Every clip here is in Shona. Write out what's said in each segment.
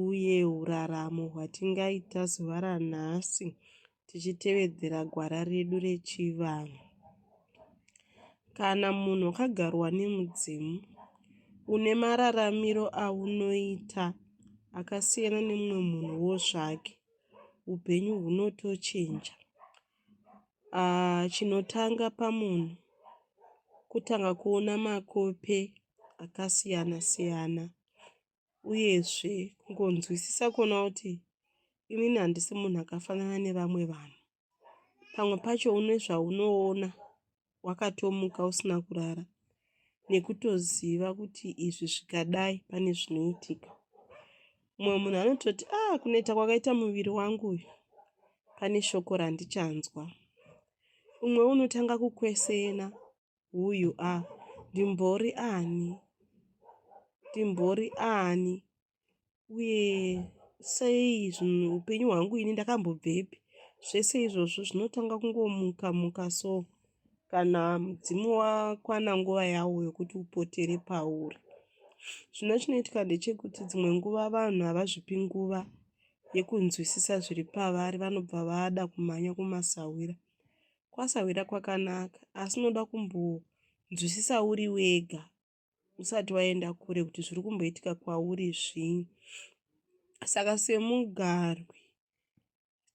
uye uraramo hwatingaita zuva ranhasi tichitevedzera gwara redu rechivanhu. Kana munhu wakagarwa nemudzimu, une mararamiro aunoita akasiyana nemumwe munhuwo zvake, upenyu hunotochinja. Ah, chinotanga pamunhu kutanga kuona makope akasiyana siyana uyezve kungonzwisisa kuona kuti inini handisi munhu akafanana nevamwe vanhu pamwe pacho une zvaunoona wakatomuka usina kurara nekutoziva kuti izvi zvikadai pane zvinoitika mumwe munhu anototi a ah, kunoita kwakaita muviri wangu uyu pane shoko randichanzwa umwe unotanga kukwesena who you are ndimbori ani ndimbori ani uye sei zvinhu upenyu hwangu ini ndakambobvepi zvese izvozvo zvinotanga kungomuka muka so kana mudzimu wakwana nguva yawo yokuti upotere pauri zvino chinoitika ndechekuti dzimwe nguva vanhu havazvipi nguva yekunzwisisa zviri pavari vanobva vada kumhanya kumasahwira Kwasahwira kwakanaka asi unoda kumbonzwisisa uri wega usati waenda kure kuti zviri kumboitika kwauri zvii. Saka semugarwi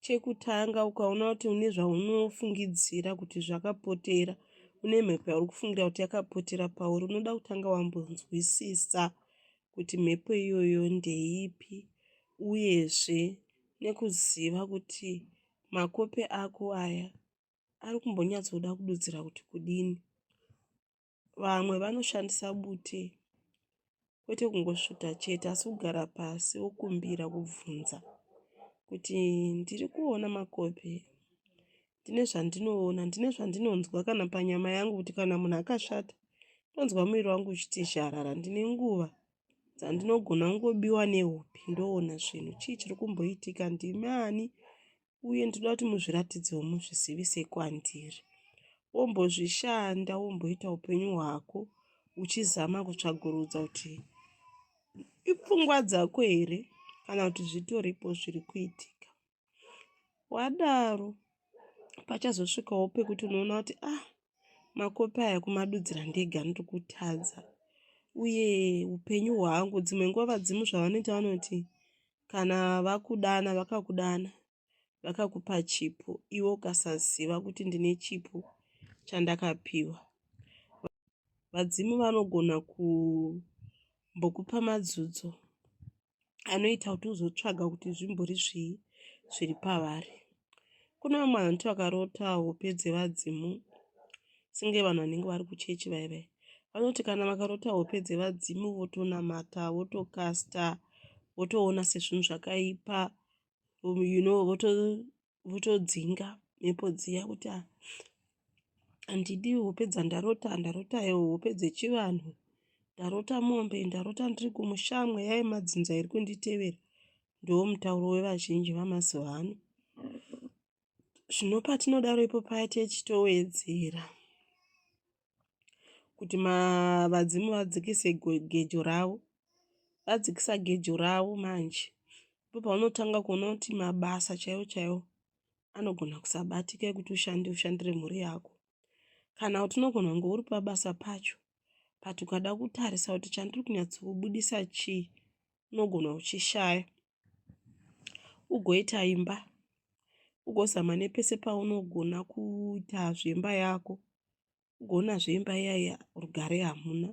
chekutanga ukaona kuti une zvaunofungidzira kuti zvakapotera une mhepo yauri kufungira kuti yakapotera pauri unoda kutanga wambonzwisisa kuti mhepo iyoyo ndeipi uyezve nekuziva kuti Makope ako aya ari kumbonyatsoda kududzira kuti kudini. Vamwe vanoshandisa bute kwete kungosvuta chete asi kugara pasi wokumbira kubvunza kuti ndiri kuona makope ndine zvandinoona ndine zvandinonzwa kana panyama yangu kuti kana munhu akashata ndonzwa muviri wangu uchiti zharara ndine nguva dzandinogona kungobiwa nehope ndoona zvinhu chii chiri kumboitika ndimi ani uye ndinoda kuti muzviratidzewo muzvisivise kwandiri wombozvishanda womboita upenyu hwako uchizama kutsvagurudza kuti ipfungwa dzako here kana kuti zvitoripo zviri kuitika wadaro pachazosvikawo pekuti unoona kuti ah makopi aya kumadudzira ndega ndiri kutadza uye upenyu hwangu dzimwe nguva vadzimu zvavanoita vanoti kana vakudana vakakudana vakakupa chipo iwe ukasaziva kuti ndine chipo chandakapiwa vadzimu vanogona kumbokupa madzudzo anoita kuti uzotsvaga kuti zvimbori zvii zviri pavari kune vamwe vanoti vakarota hope dzevadzimu senge vanhu vanenge vari kuchechi vai vai vanoti kana vakarota hope dzevadzimu votonamata votokasta votoona sezvinhu zvakaipa you know voto votodzinga mhepo dziya kuti ah, handidi hope dzandarota ndarota hope dzechivanhu ndarota mombe ndarota ndiri kumusha mweya yemadzinza iri kunditevera ndiwo mutauro wevazhinji vamazuva ano zvino patinodaro ipo paya techitowedzera kuti vadzimu vadzikise gejo ravo vadzikisa gejo ravo manje ndipo paunotanga kuona kuti mabasa chaiwo chaiwo anogona kusabatika ekuti ushande ushandire mhuri yako kana kuti unogona kunge uri pabasa pacho but ukada kutarisa kuti chandiri kunyatsokubudisa chii unogona uchishaya ugoita imba ugozama nepese paunogona kuita zvemba yako ugoona zvemba iyaiya rugare hamuna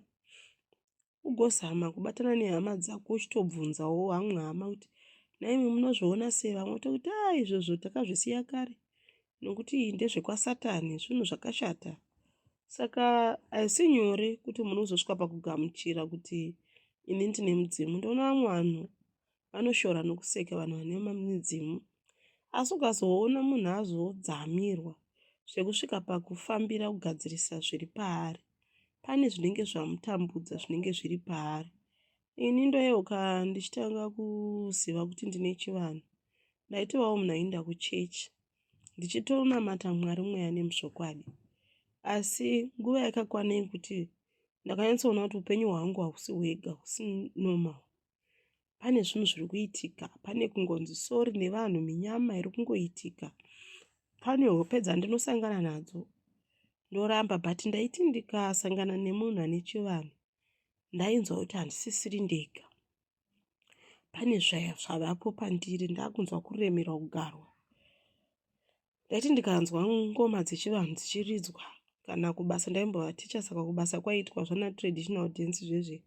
ugozama kubatana nehama dzako uchitobvunzawo vamwe hama kuti nhaimi munozviona sei vamwe tokuti a ah, izvozvo takazvisiya kare nokuti ndezvekwasatani zvinhu zvakashata saka haisi nyore kuti munhu uzosvika pakugamuchira kuti ini ndine mudzimu ndoona vamwe vanhu vanoshora nokuseka vanhu vane midzimu asi ukazoona munhu azodzamirwa zvekusvika pakufambira kugadzirisa zviri paari pane zvinenge zvamutambudza zvinenge zviri paari ini ndoyeuka ndichitanga kuziva kuti ndine chivanhu ndaitovawo munhu ainda kuchechi ndichitonamata Mwari mweya nemuzvokwadi. Asi nguva yakakwana yekuti ndakanyatsoona kuti upenyu hwangu hausi hwega, hausi normal. Pane zvinhu zviri kuitika, pane kungonzi sori nevanhu, minyama iri kungoitika, pane hope dzandinosangana nadzo. Ndoramba but ndaiti ndikasangana nemunhu ane chivanhu ndainzwa kuti handisisiri ndega. pane zvavapo pandiri ndakunzwa kuremerwa kugarwa ndaiti ndikanzwa ngoma dzechivanhu dzichiridzwa kana kubasa ndaimbova ticha saka kubasa kwaiitwa zvana traditional dance zvezve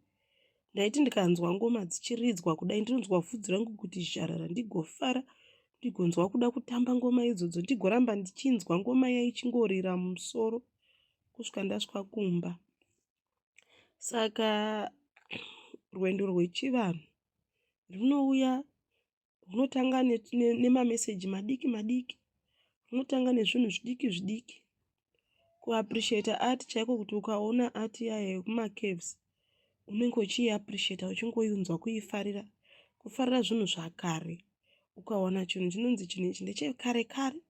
ndaiti ndikanzwa ngoma dzichiridzwa kudai ndinonzwa vhudzi rangu kuti zharara ndigofara ndigonzwa kuda kutamba ngoma idzodzo ndigoramba ndichinzwa ngoma yaichingoorira musoro kusvika ndasvika kumba Saka rwendo rwechivanhu runouya runotanga nemameseji madiki madiki, runotanga nezvinhu zvidiki zvidiki. Kuapurisheta ati chaiko kuti ukaona ati iya yekumacaves unenge uchiiapurisheta uchingoinzwa kuifarira, kufarira zvinhu zvakare. Ukawana chinhu chinonzi chinhu ichi ndechekare kare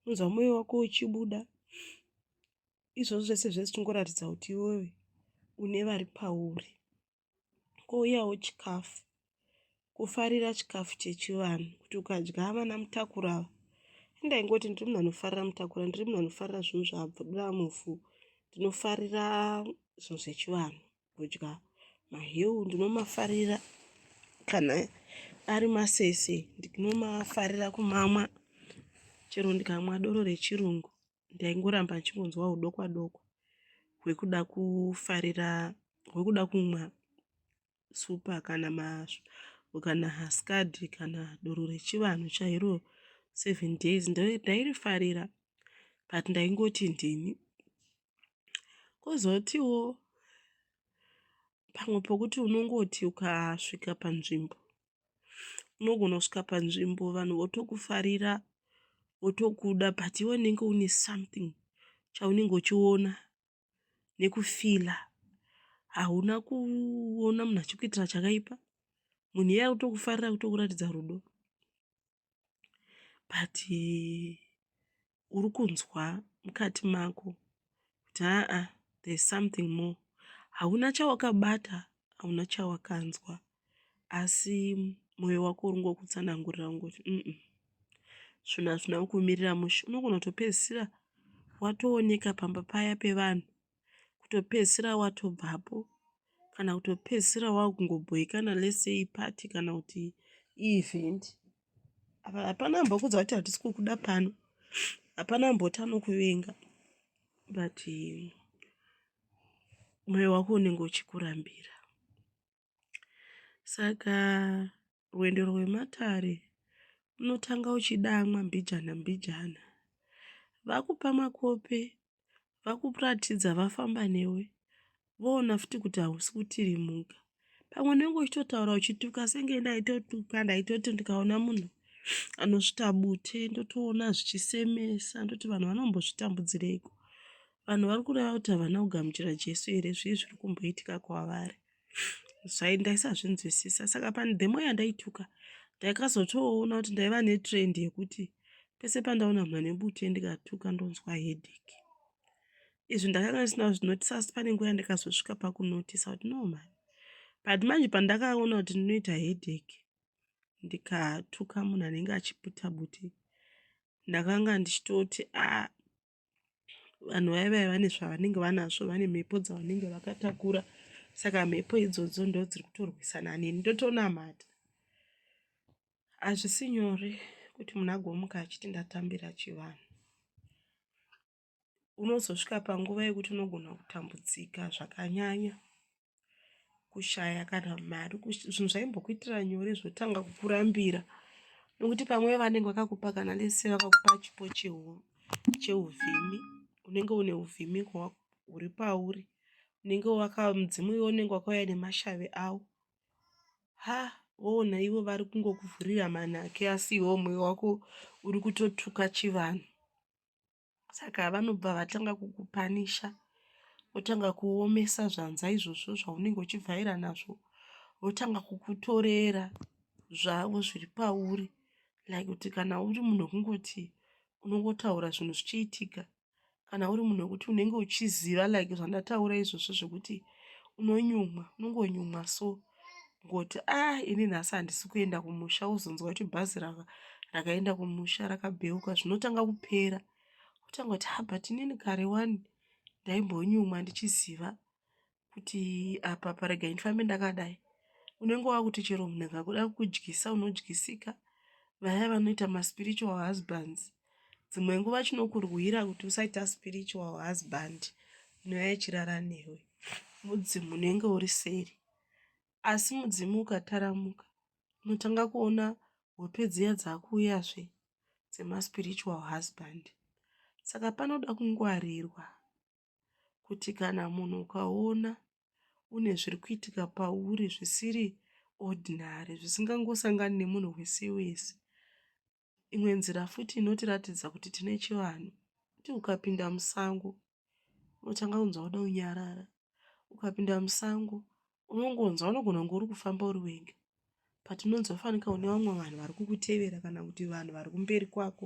unonzwa moyo wako uchibuda. izvozvo zvese zvese chingoratidza kuti iwewe une vari pauri kouyawo chikafu kufarira chikafu chechivanhu kuti ukadya vana mutakura ava indaingoti ndiri munhu anofarira mutakura ndiri munhu anofarira zvinhu zvaabvudira mufu ndinofarira zvinhu zvechivanhu kudya mahewu ndinomafarira kana ari masese ndinomafarira kumamwa chero ndikamwa doro rechirungu ndaingoramba ndichingonzwa hudokwa dokwa hwekuda kufarira hwekuda kumwa supa kana masvo kana haskad kana doro rechivanhu chairo seven days ndairifarira but ndaingoti ndini kozotiwo pamwe pokuti unongoti ukasvika panzvimbo unogona kusvika panzvimbo vanhu votokufarira votokuda but iwe unenge une something chaunenge uchiona nekufila hauna kuona munhu achikuitira chakaipa munhu iye akutokufarira kutokuratidza rudo but uri kunzwa mukati mako kuti aa there is something more. Hauna chawakabata, hauna chawakanzwa asi moyo wako uri ngokutsanangurira kungoti umm zvinhu hazvina kumirira mushe. Unogona kutopedzisira watooneka pamba paya pevanhu kutopedzisira watobvapo kana kutopedzisira wakungobhoikana let's say party kana kuti event apa hapana ambokuudza kuti hatisi kukuda pano hapana amboti anokuvenga but moyo wako unenge uchikurambira Saka rwendo rwematare unotanga uchidamwa mbijana mbijana. Vakupa makope, vakuratidza vafamba newe voona futi kuti hausi kutirimuka. Pamwe unenge uchitotaura uchituka senge ndaitotuka ndaitoti ndikaona munhu anosvita bute ndotoona zvichisemesa ndoti vanhu vanombozvitambudzireiko. Vanhu vari kureva kuti havana kugamuchira Jesu here zvii zviri kumboitika kwavari. zvai ndaisazvinzwisisa saka pani demo yandaituka ndaikazotoona kuti ndaiva netrend yekuti pese pandaona mhani mbute ndikatuka ndonzwa headache izvi ndakanga ndisina kuzvinotisa asi pane nguva yandikazosvika pakunotisa kuti no mhani but manje pandakaona kuti ndinoita headache ndikatuka munhu anenge achiputa buti ndakanga ndichitoti a ah, vanhu vaya vaya vane zvavanenge vanazvo vane mhepo dzavanenge vakatakura saka mhepo idzodzo ndo dziri kutorwisana neni ndotonamata hazvisi nyore kuti munhu agomuka achiti ndatambira chivanhu unozosvika panguva yekuti unogona kutambudzika zvakanyanya kushaya kana mari zvinhu zvaimbokuitira nyore zvotanga kukurambira nokuti pamwe vanenge vakakupa kana lese vakakupa chipo cheuvhimi unenge une uvhimi huri pauri unenge wakamudzimu iwe unenge wakauya nemashavi avo ha woona ivo vari kungokuvhurira manhake asi iwe umwe wako uri kutotuka chivanhu saka vanobva vatanga kukupanisha votanga kuomesa zvanza izvozvo zvaunenge uchivhaira nazvo votanga kukutorera zvavo zviri pauri like kuti kana uri munhu wekungoti unongotaura zvinhu zvichiitika kana uri munhu wekuti unenge uchiziva like zvandataura izvozvo zvekuti unonyumwa unongonyumwa so kungoti ah ini nhasi handisi kuenda kumusha wozonzwa kuti bhazi rava rakaenda kumusha rakabheuka zvinotanga kupera kutanga kuti ha ah, but inini kare wani ndaimbonyumwa ndichiziva kuti apa parega ndifambe ndakadai unenge wakuti chero munhu akakuda kudyisa unodyisika vaya vanoita maspiritual husbands dzimwe nguva chinokurwira kuti usaita spiritual husband inoya ichirara newe mudzimu unenge uri seri asi mudzimu ukataramuka unotanga kuona hope dziya dzakuuyazve dzemaspiritual husband saka panoda kungwarirwa kuti kana munhu ukaona une zviri kuitika pauri zvisiri ordinary zvisingangosangani nemunhu wese wese Imwe nzira futi inotiratidza kuti tine chivanhu kuti ukapinda musango unotanga kunzwa kuda kunyarara. Ukapinda musango unongonzwa unogona kunge uri kufamba uri wega but unonzwa fanika une vamwe vanhu vari kukutevera kana kuti vanhu vari kumberi kwako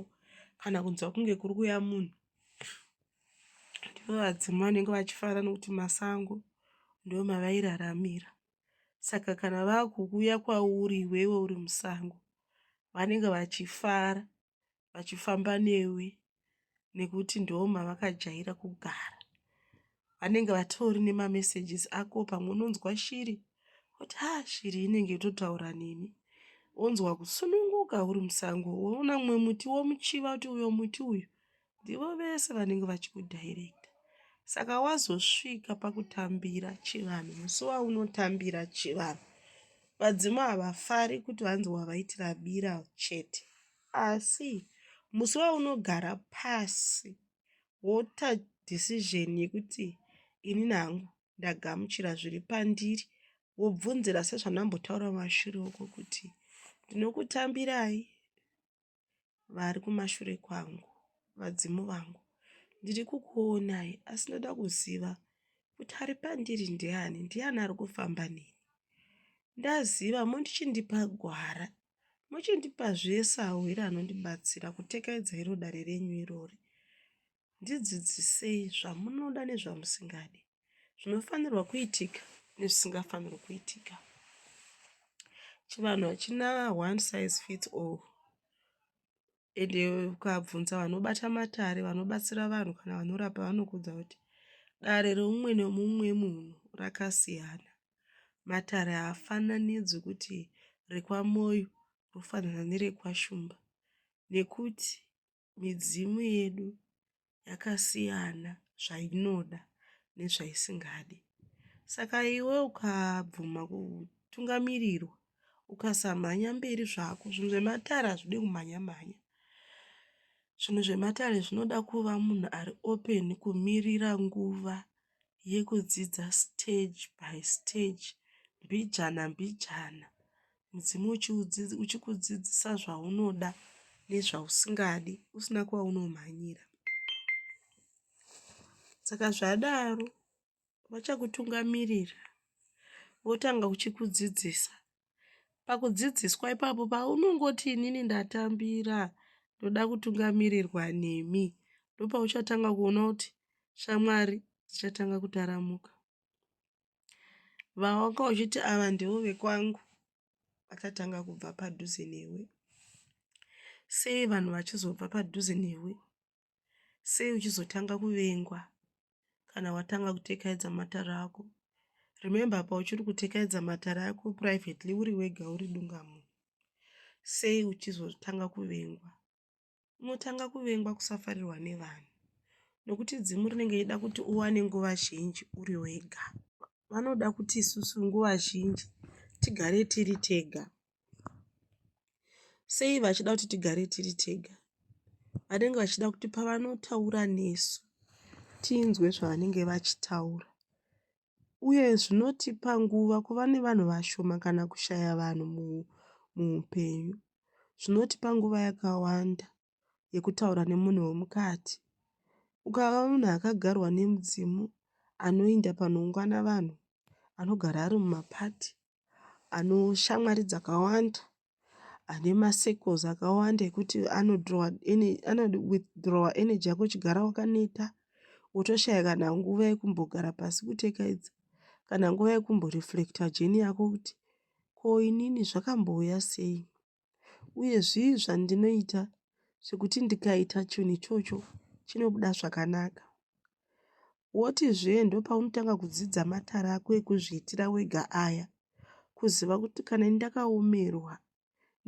kana kunzwa kunge kuri kuuya munhu. Ndivo vadzimu vanenge vachifara nokuti masango ndiwo mavairaramira. saka kana vakuuya kwauri iwewe uri musango vanenge vachifara vachifamba newe nekuti ndo mavakajaira kugara vanenge vatori nemamessages ako pamwe unonzwa shiri kuti ha shiri inenge yototaura neni onzwa kusununguka uri musango woona mumwe muti womuchiva kuti uyo muti uyu ndivo vese vanenge vachikudirecta saka wazosvika pakutambira chivanhu musi waunotambira chivanhu vadzimu havafari kuti vanzi wavaitira bira chete asi musi waunogara pasi wota decision yekuti ini nangu ndagamuchira zviri pandiri wobvunzira sezvandambotaura mashure uko kuti ndinokutambirai vari kumashure kwangu, vadzimu vangu. Ndiri kukuonai, asi ndoda kuziva kuti ari pandiri ndiani, ndiani ari kufamba neni. Ndaziva mochindipa gwara, mochindipazve sahwira anondibatsira kutekaidza iro dare renyu irori. Ndidzidzisei zvamunoda nezvamusingadi, zvinofanirwa kuitika nezvisingafanirwi kuitika. Chivanhu hachina one size fits all ende ukabvunza vanobata matare vanobatsira vanhu kana vanorapa vanokuudza kuti dare reumwe nemumwe munhu rakasiyana. Matare haafananidzwi kuti rekwaMoyo rofanana nerekwaShumba nekuti Midzimu yedu yakasiyana zvainoda nezvaisingadi. Saka iwe ukabvuma kutungamirirwa ukasamhanya mberi zvako zvinhu zvematare hazvide kumhanya mhanya zvinhu zvematare zvinoda kuva munhu ari open kumirira nguva yekudzidza stage by stage mbijana mbijana mudzimu uchikudzidzisa zvaunoda nezvausingadi usina kwaunomhanyira saka zvadaro vachakutungamirira votanga kuchikudzidzisa Pakudzidziswa ipapo paunongoti inini ndatambira ndoda kutungamirirwa nemi ndopauchatanga kuona kuti shamwari dzichatanga kutaramuka. Vawanga uchiti ava ndivo vekwangu vachatanga kubva padhuze newe. Sei vanhu vachizobva padhuze newe? sei uchizotanga kuvengwa kana watanga kutekaedza matare ako remember apa uchiri kutekaedza matare ako privately uri wega uri dungamo sei uchizotanga kuvengwa unotanga kuvengwa kusafarirwa nevanhu nokuti dzimu rinenge ichida kuti uwane nguva zhinji uri wega vanoda kuti isusu nguva zhinji tigare tiri tega Sei vachida kuti tigare tiri tega? Vanenge vachida kuti pavanotaura nesu tinzwe zvavanenge vachitaura uye zvinotipa nguva kuva nevanhu vashoma kana kushaya vanhu muupenyu. Zvinotipa nguva yakawanda yekutaura nemunhu wemukati. Ukava munhu akagarwa nemudzimu anoinda panoungana vanhu, anogara ari mumapati, anoshamwari dzakawanda, ane masecles akawanda ekuti anowithdrawa energy yako uchigara wakaneta wotoshaya kana nguva yekumbogara pasi kutekaidza kana nguva yekumboreflector jeni yako kuti ko inini zvakambouya sei. uye zvii zvandinoita zvekuti ndikaita chinhu ichocho chinobuda zvakanaka. Wotizve ndopaunotanga kudzidza matare ako ekuzviitira wega aya, kuziva kuti kana ini ndakaomerwa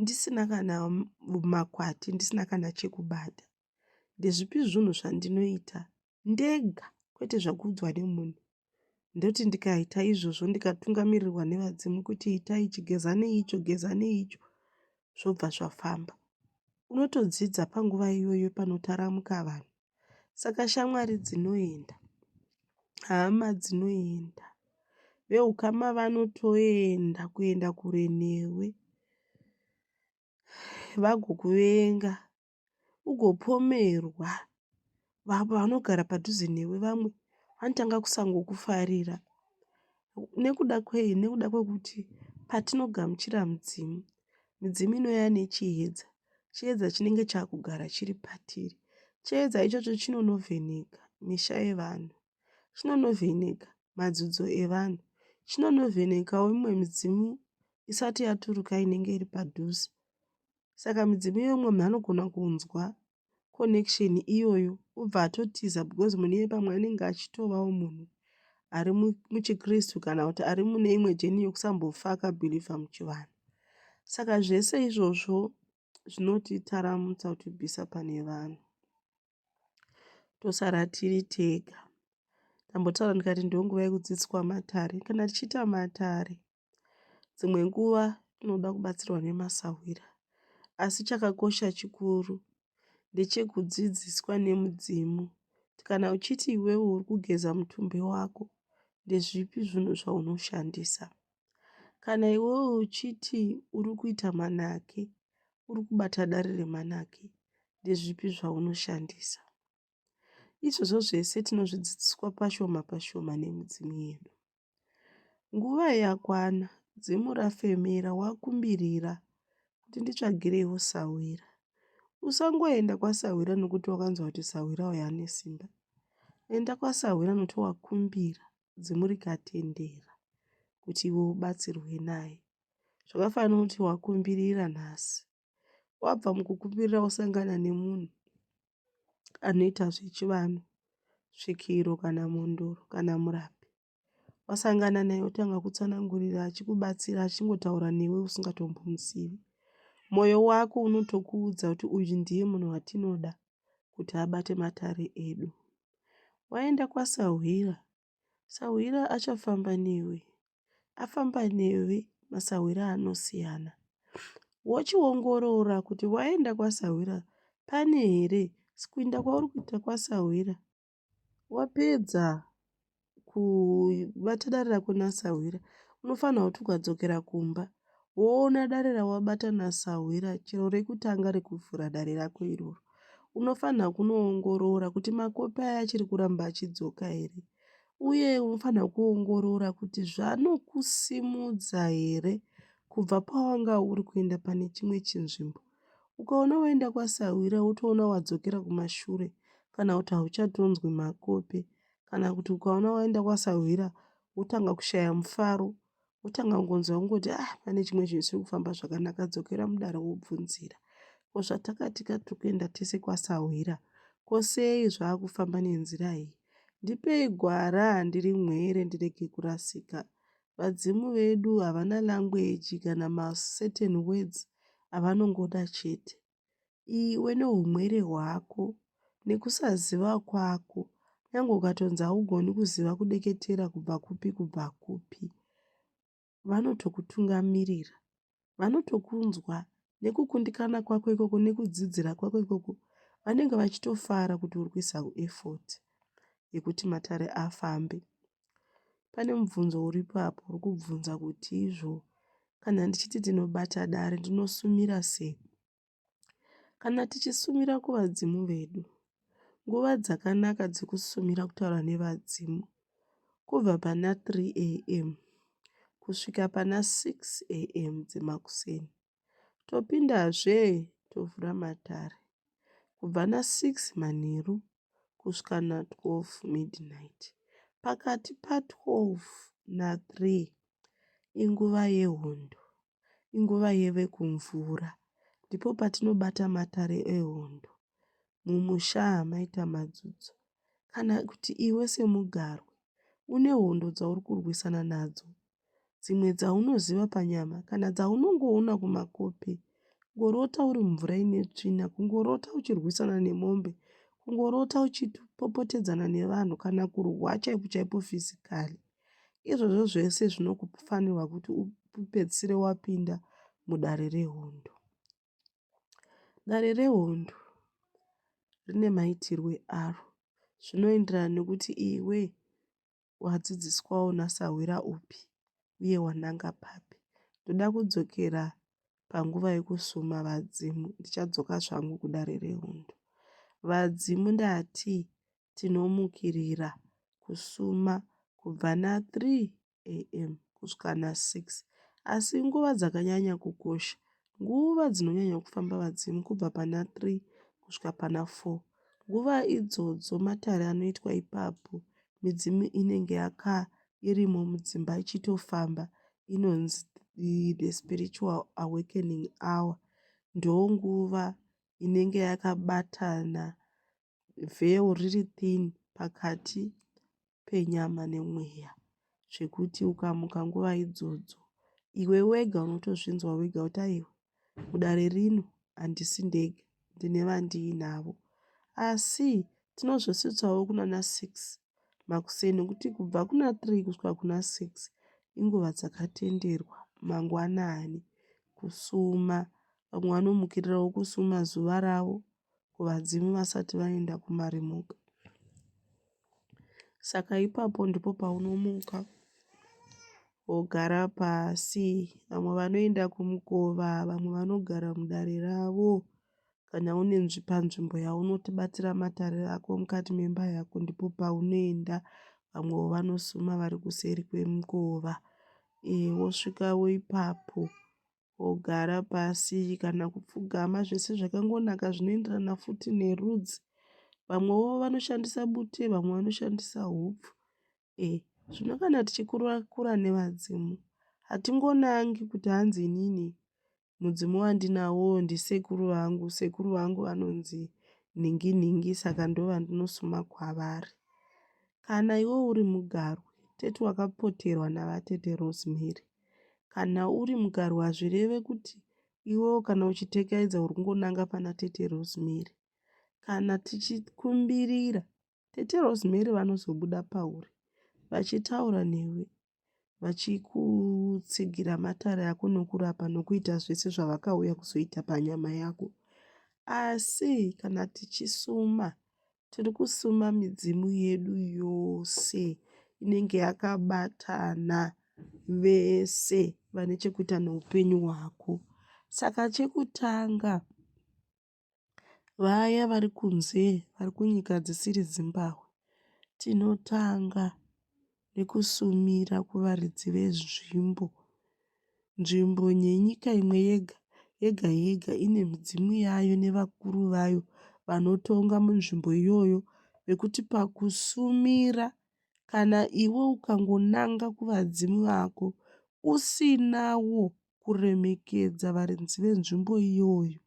ndisina kana makwati, ndisina kana chekubata, Ndezvipi zvunhu zvandinoita ndega kwete zvakuudzwa nemunhu? Ndoti ndikaita izvozvo ndikatungamirirwa nevadzimu kuti ita ichi, geza neicho, geza neicho, zvobva zvafamba. Unotodzidza panguva iyoyo panotaramuka vanhu. Saka shamwari dzinoenda, hama dzinoenda, veukama vanotoenda kuenda kure newe vagokuvenga ugopomerwa vamwe vanogara padhuze newe vamwe vanotanga kusangokufarira nekuda kwei nekuda kwekuti patinogamuchira mudzimu midzimu inouya nechiedza chiedza chinenge chakugara chiri patiri chiedza ichocho chinonovheneka misha yevanhu chinonovheneka madzidzo evanhu chinonovhenekawo imwe midzimu isati yaturuka inenge iri padhuze Saka midzimu iyoyo umwe munhu anogona kunzwa connection iyoyo obva atotiza because munhu iye pamwe anenge achitovawo munhu ari muchikristu kana kuti ari mune imwe jeni yokusambofa akabhilivha muchivanhu saka zvese izvozvo zvinotitaramutsa kutibvisa pane vanhu tosara tiri tega tambotaura ndikati ndonguva yekudzidziswa matare kana tichiita matare Dzimwe nguva tinoda kubatsirwa nemasahwira asi chakakosha chikuru ndechekudzidziswa nemudzimu kuti kana uchiti iwewe uri kugeza mutumbi wako ndezvipi zvinhu zvaunoshandisa. Kana iwewe uchiti uri kuita manake, uri kubata dare remanake, ndezvipi zvaunoshandisa. Izvozvo zvese tinozvidzidziswa pashoma pashoma nemidzimu yedu. Nguva yakwana dzimu rafemera wakumbirira kuti nditsvagireiwo sahwira. Usangoenda kwasahwira nokuti wakanzwa kuti sahwira uyo ane simba. Enda kwasahwira nokuti wakumbira dzimu rikatendera kuti iwe ubatsirwe naye. Zvakafanana kuti wakumbirira nhasi wabva mukukumbirira wosangana nemunhu anoita zvechivanhu svikiro kana mhondoro kana murapi wasangana naye wotanga kutsanangurira achikubatsira achingotaura newe usingatombomuzivi mwoyo wako unotokuudza kuti uyu ndiye munhu watinoda kuti abate matare edu waenda kwasahwira Sahwira achafamba newe. Afamba newe masahwira anosiyana. Wochiongorora kuti waenda kwasahwira pane here kuenda kwauri kuita kwasahwira. Wapedza kubata dare rako nasahwira unofanirwa kuti ukadzokera kumba woona dare rawabata nasahwira chero rekutanga rekuvhura dare rako iroro unofanira kunoongorora kuti makopi aya achiri kuramba achidzoka here uye unofanira kuongorora kuti zvanokusimudza here kubva pawanga uri kuenda pane chimwe chinzvimbo ukaona waenda kwasahwira wotoona wadzokera kumashure kana kuti hauchatonzwi makopi kana kuti ukaona waenda kwasahwira wotanga kushaya mufaro wotanga kungonzwa kungoti ah pane chimwe chinhu chisiri kufamba zvakanaka dzokera mudare wobvunzira ko zvatakatika tiri kuenda tese kwasahwira ko sei zvaakufamba nenzira iyi ndipei gwara ndiri mwere ndirege kurasika vadzimu vedu havana language kana macertain words avanongoda chete iwe nehumwere hwako nekusaziva kwako nyange ukatonzi haugoni kuziva kudeketera kubva kupi kubva kupi vanotokutungamirira vanotokunzwa nekukundikana kwako ikoko nekudzidzira kwako ikoko vanenge vachitofara kuti uri kuisa effort yekuti matare afambe Pane mubvunzo uripo apo uri kubvunza kuti izvo kana ndichiti tinobata dare ndinosumira sei. Kana tichisumira kuvadzimu vedu, nguva dzakanaka dzekusumira kutaura nevadzimu kubva pana 3 am kusvika pana 6 am dzemakuseni. Topindazve tovhura matare kubva na 6 manheru kusvika na 12 midnight. Pakati pa 12 na 3 inguva yehondo, inguva yevekumvura. Ndipo patinobata matare ehondo mumusha mai Tamadzidzo. Kana kuti iwe semugarwi une hondo dzauri kurwisana nadzo dzimwe dzaunoziva panyama kana dzaunongoona kumakope. Kungorota uri mumvura ine tsvina, kungorota uchirwisana nemombe, kungorota uchipopotedzana nevanhu kana kurwa chaipo chaipo fizikali. Izvozvo zvese zvinokufanirwa kuti upedzisire wapinda mudare rehondo. Dare rehondo rine maitirwe aro zvinoenderana nekuti iwe wadzidziswawo nasahwira upi uye wananga papi ndoda kudzokera panguva yekusuma vadzimu ndichadzoka zvangu kudare rehondo vadzimu ndati tinomukirira kusuma kubva na3 am kusvika na6 asi nguva dzakanyanya kukosha nguva dzinonyanya kufamba vadzimu kubva pana 3 kusvika pana 4 nguva idzodzo matare anoitwa ipapo midzimu inenge yaka irimo mudzimba ichitofamba inonzi the spiritual awakening hour ndonguva inenge yakabatana vheu riri thin pakati penyama nemweya zvekuti ukamuka nguva idzodzo iwe wega unotozvinzwa wega kuti aiwa Mudare rino handisi ndega, ndine vandiinavo. Asi tinozosvitsawo kunana six makuseni nokuti kubva kuna three kusvika kuna six inguva dzakatenderwa mangwanani kusuma. Vamwe vanomukirirawo kusuma zuva ravo. kuvadzimu vasati vaenda kumarimuka. Saka ipapo ndipo paunomuka wogara pasi. Vamwe vanoenda kumukova, vamwe vanogara mudare ravo. Kana une panzvimbo yaunoti batira matare ako mukati memba yako ndipo paunoenda. Vamwewo vanosuma vari kuseri kwemukova. Ee wosvika ipapo wogara pasi kana kupfugama zvese zvakangonaka zvinoenderana futi nerudzi. Vamwewo vanoshandisa bute vamwe vanoshandisa hupfu. Eh zvino kana tichikurakura nevadzimu hatingonangi kuti hanzi inini mudzimu wandinawo ndisekuru vangu. Sekuru vangu vanonzi nhinginhingi saka ndovandinosuma kwavari. Kana iwe uri mugarwe tete wakapoterwa navatete Rosemary Kana uri mugarwe hazvireve kuti iwewo kana uchitekaidza uri kungonanga pana Tete Rosemary. Kana tichikumbirira, Tete Rosemary vanozobuda pauri vachitaura newe vachikutsigira matare ako nokurapa nokuita zvese zvavakauya kuzoita panyama yako. Asi kana tichisuma, Tiri kusuma midzimu yedu yose inenge yakabatana vese vane chekuita neupenyu hwako. Saka chekutanga vaya vari kunze vari kunyika dzisiri Zimbabwe tinotanga nekusumira kuvaridzi venzvimbo. Nzvimbo yenyika imwe yega yega yega ine midzimu yayo nevakuru vayo vanotonga munzvimbo iyoyo nekuti pakusumira kana iwe ukangonanga kuvadzimu vako usinawo kuremekedza varidzi venzvimbo iyoyo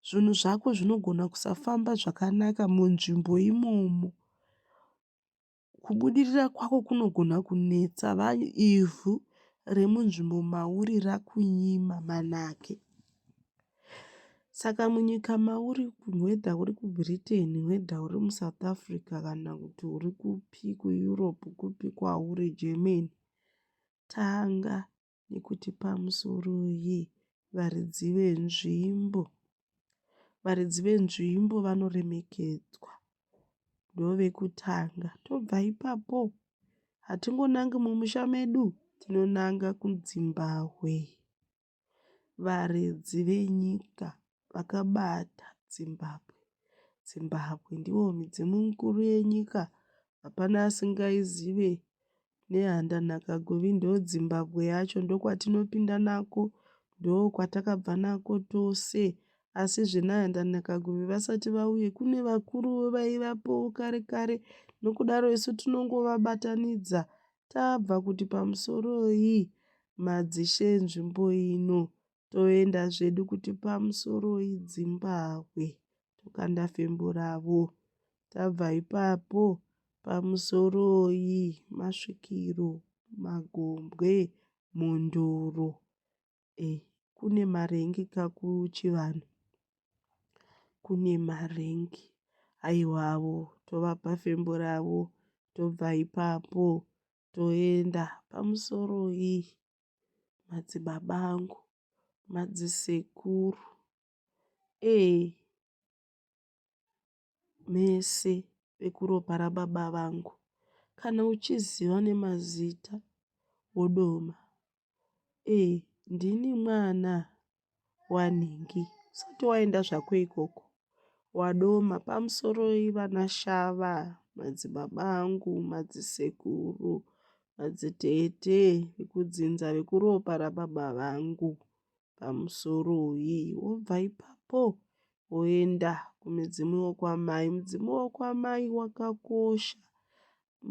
zvinhu zvako zvinogona kusafamba zvakanaka munzvimbo imomo. Kubudirira kwako kunogona kunetsa va ivhu remunzvimbo mauri rakunyima manake. Saka munyika mauri whether uri kuBritain whether uri muSouth Africa kana kuti uri kupi kuEurope kupi kwauri Germany, tanga. nekuti pamusoroi varidzi venzvimbo. Varidzi venzvimbo vanoremekedzwa ndovekutanga tobva ipapo hatingonangi mumusha medu tinonanga kudzimbahwe. Varidzi venyika vakabata Zimbabwe. Zimbabwe ndivo midzimu mikuru yenyika hapana asingaizive nehanda nhaka govi ndodzimbabwe yacho ndokwatinopinda nako ndokwatakabva nako tose asi zvenahanda nhaka govi vasati vauye kune vakuru vaivapo kare kare nokudaro isu tinongovabatanidza tabva kuti pamusoroi madzishe enzvimbo ino toenda zvedu kuti pamusoroi dzimbahwe tokanda fimbo ravo tabva ipapo pamusoroi masvikiro magombwe mhondoro eh, kune marengi kakuchivanhu kune marengi aiwavo tovapa fimbo ravo tobva ipapo toenda pamusoro iyi madzibaba angu madzisekuru ee mese vekuropa rababa vangu kana uchiziva nemazita wodoma Eeh ndini mwana wanhingi usati waenda zvako ikoko wadoma pamusoroi vana shava madzibaba angu madzisekuru madzitete vekudzinza vekuropa rababa vangu pamusoroi wobva ipapo woenda kumudzimu wekwamai mudzimu wekwamai wakakosha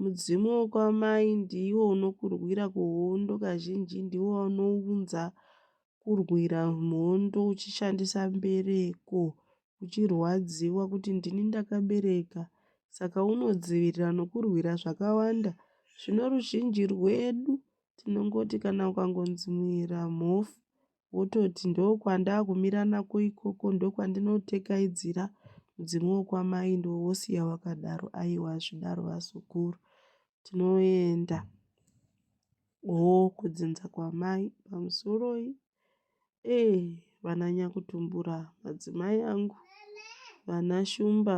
Mudzimu wekwamai ndiwo unokurwira kuhondo kazhinji ndiwo unounza kurwira mhondo uchishandisa mbereko uchirwadziwa kuti ndini ndakabereka saka unodzivirira nokurwira zvakawanda zvino ruzhinji rwedu tinongoti kana ukangonzi muera mhofu wototi ndokwandakumira nako ikoko ndokwandinotekaidzira mudzimu wokwamai ndiwo wosiya wakadaro aiwa hazvidaro vazukuru tinoenda hoo kudzinza kwamai pamusoroi ee eh, vananyakutumbura madzimai angu vanashumba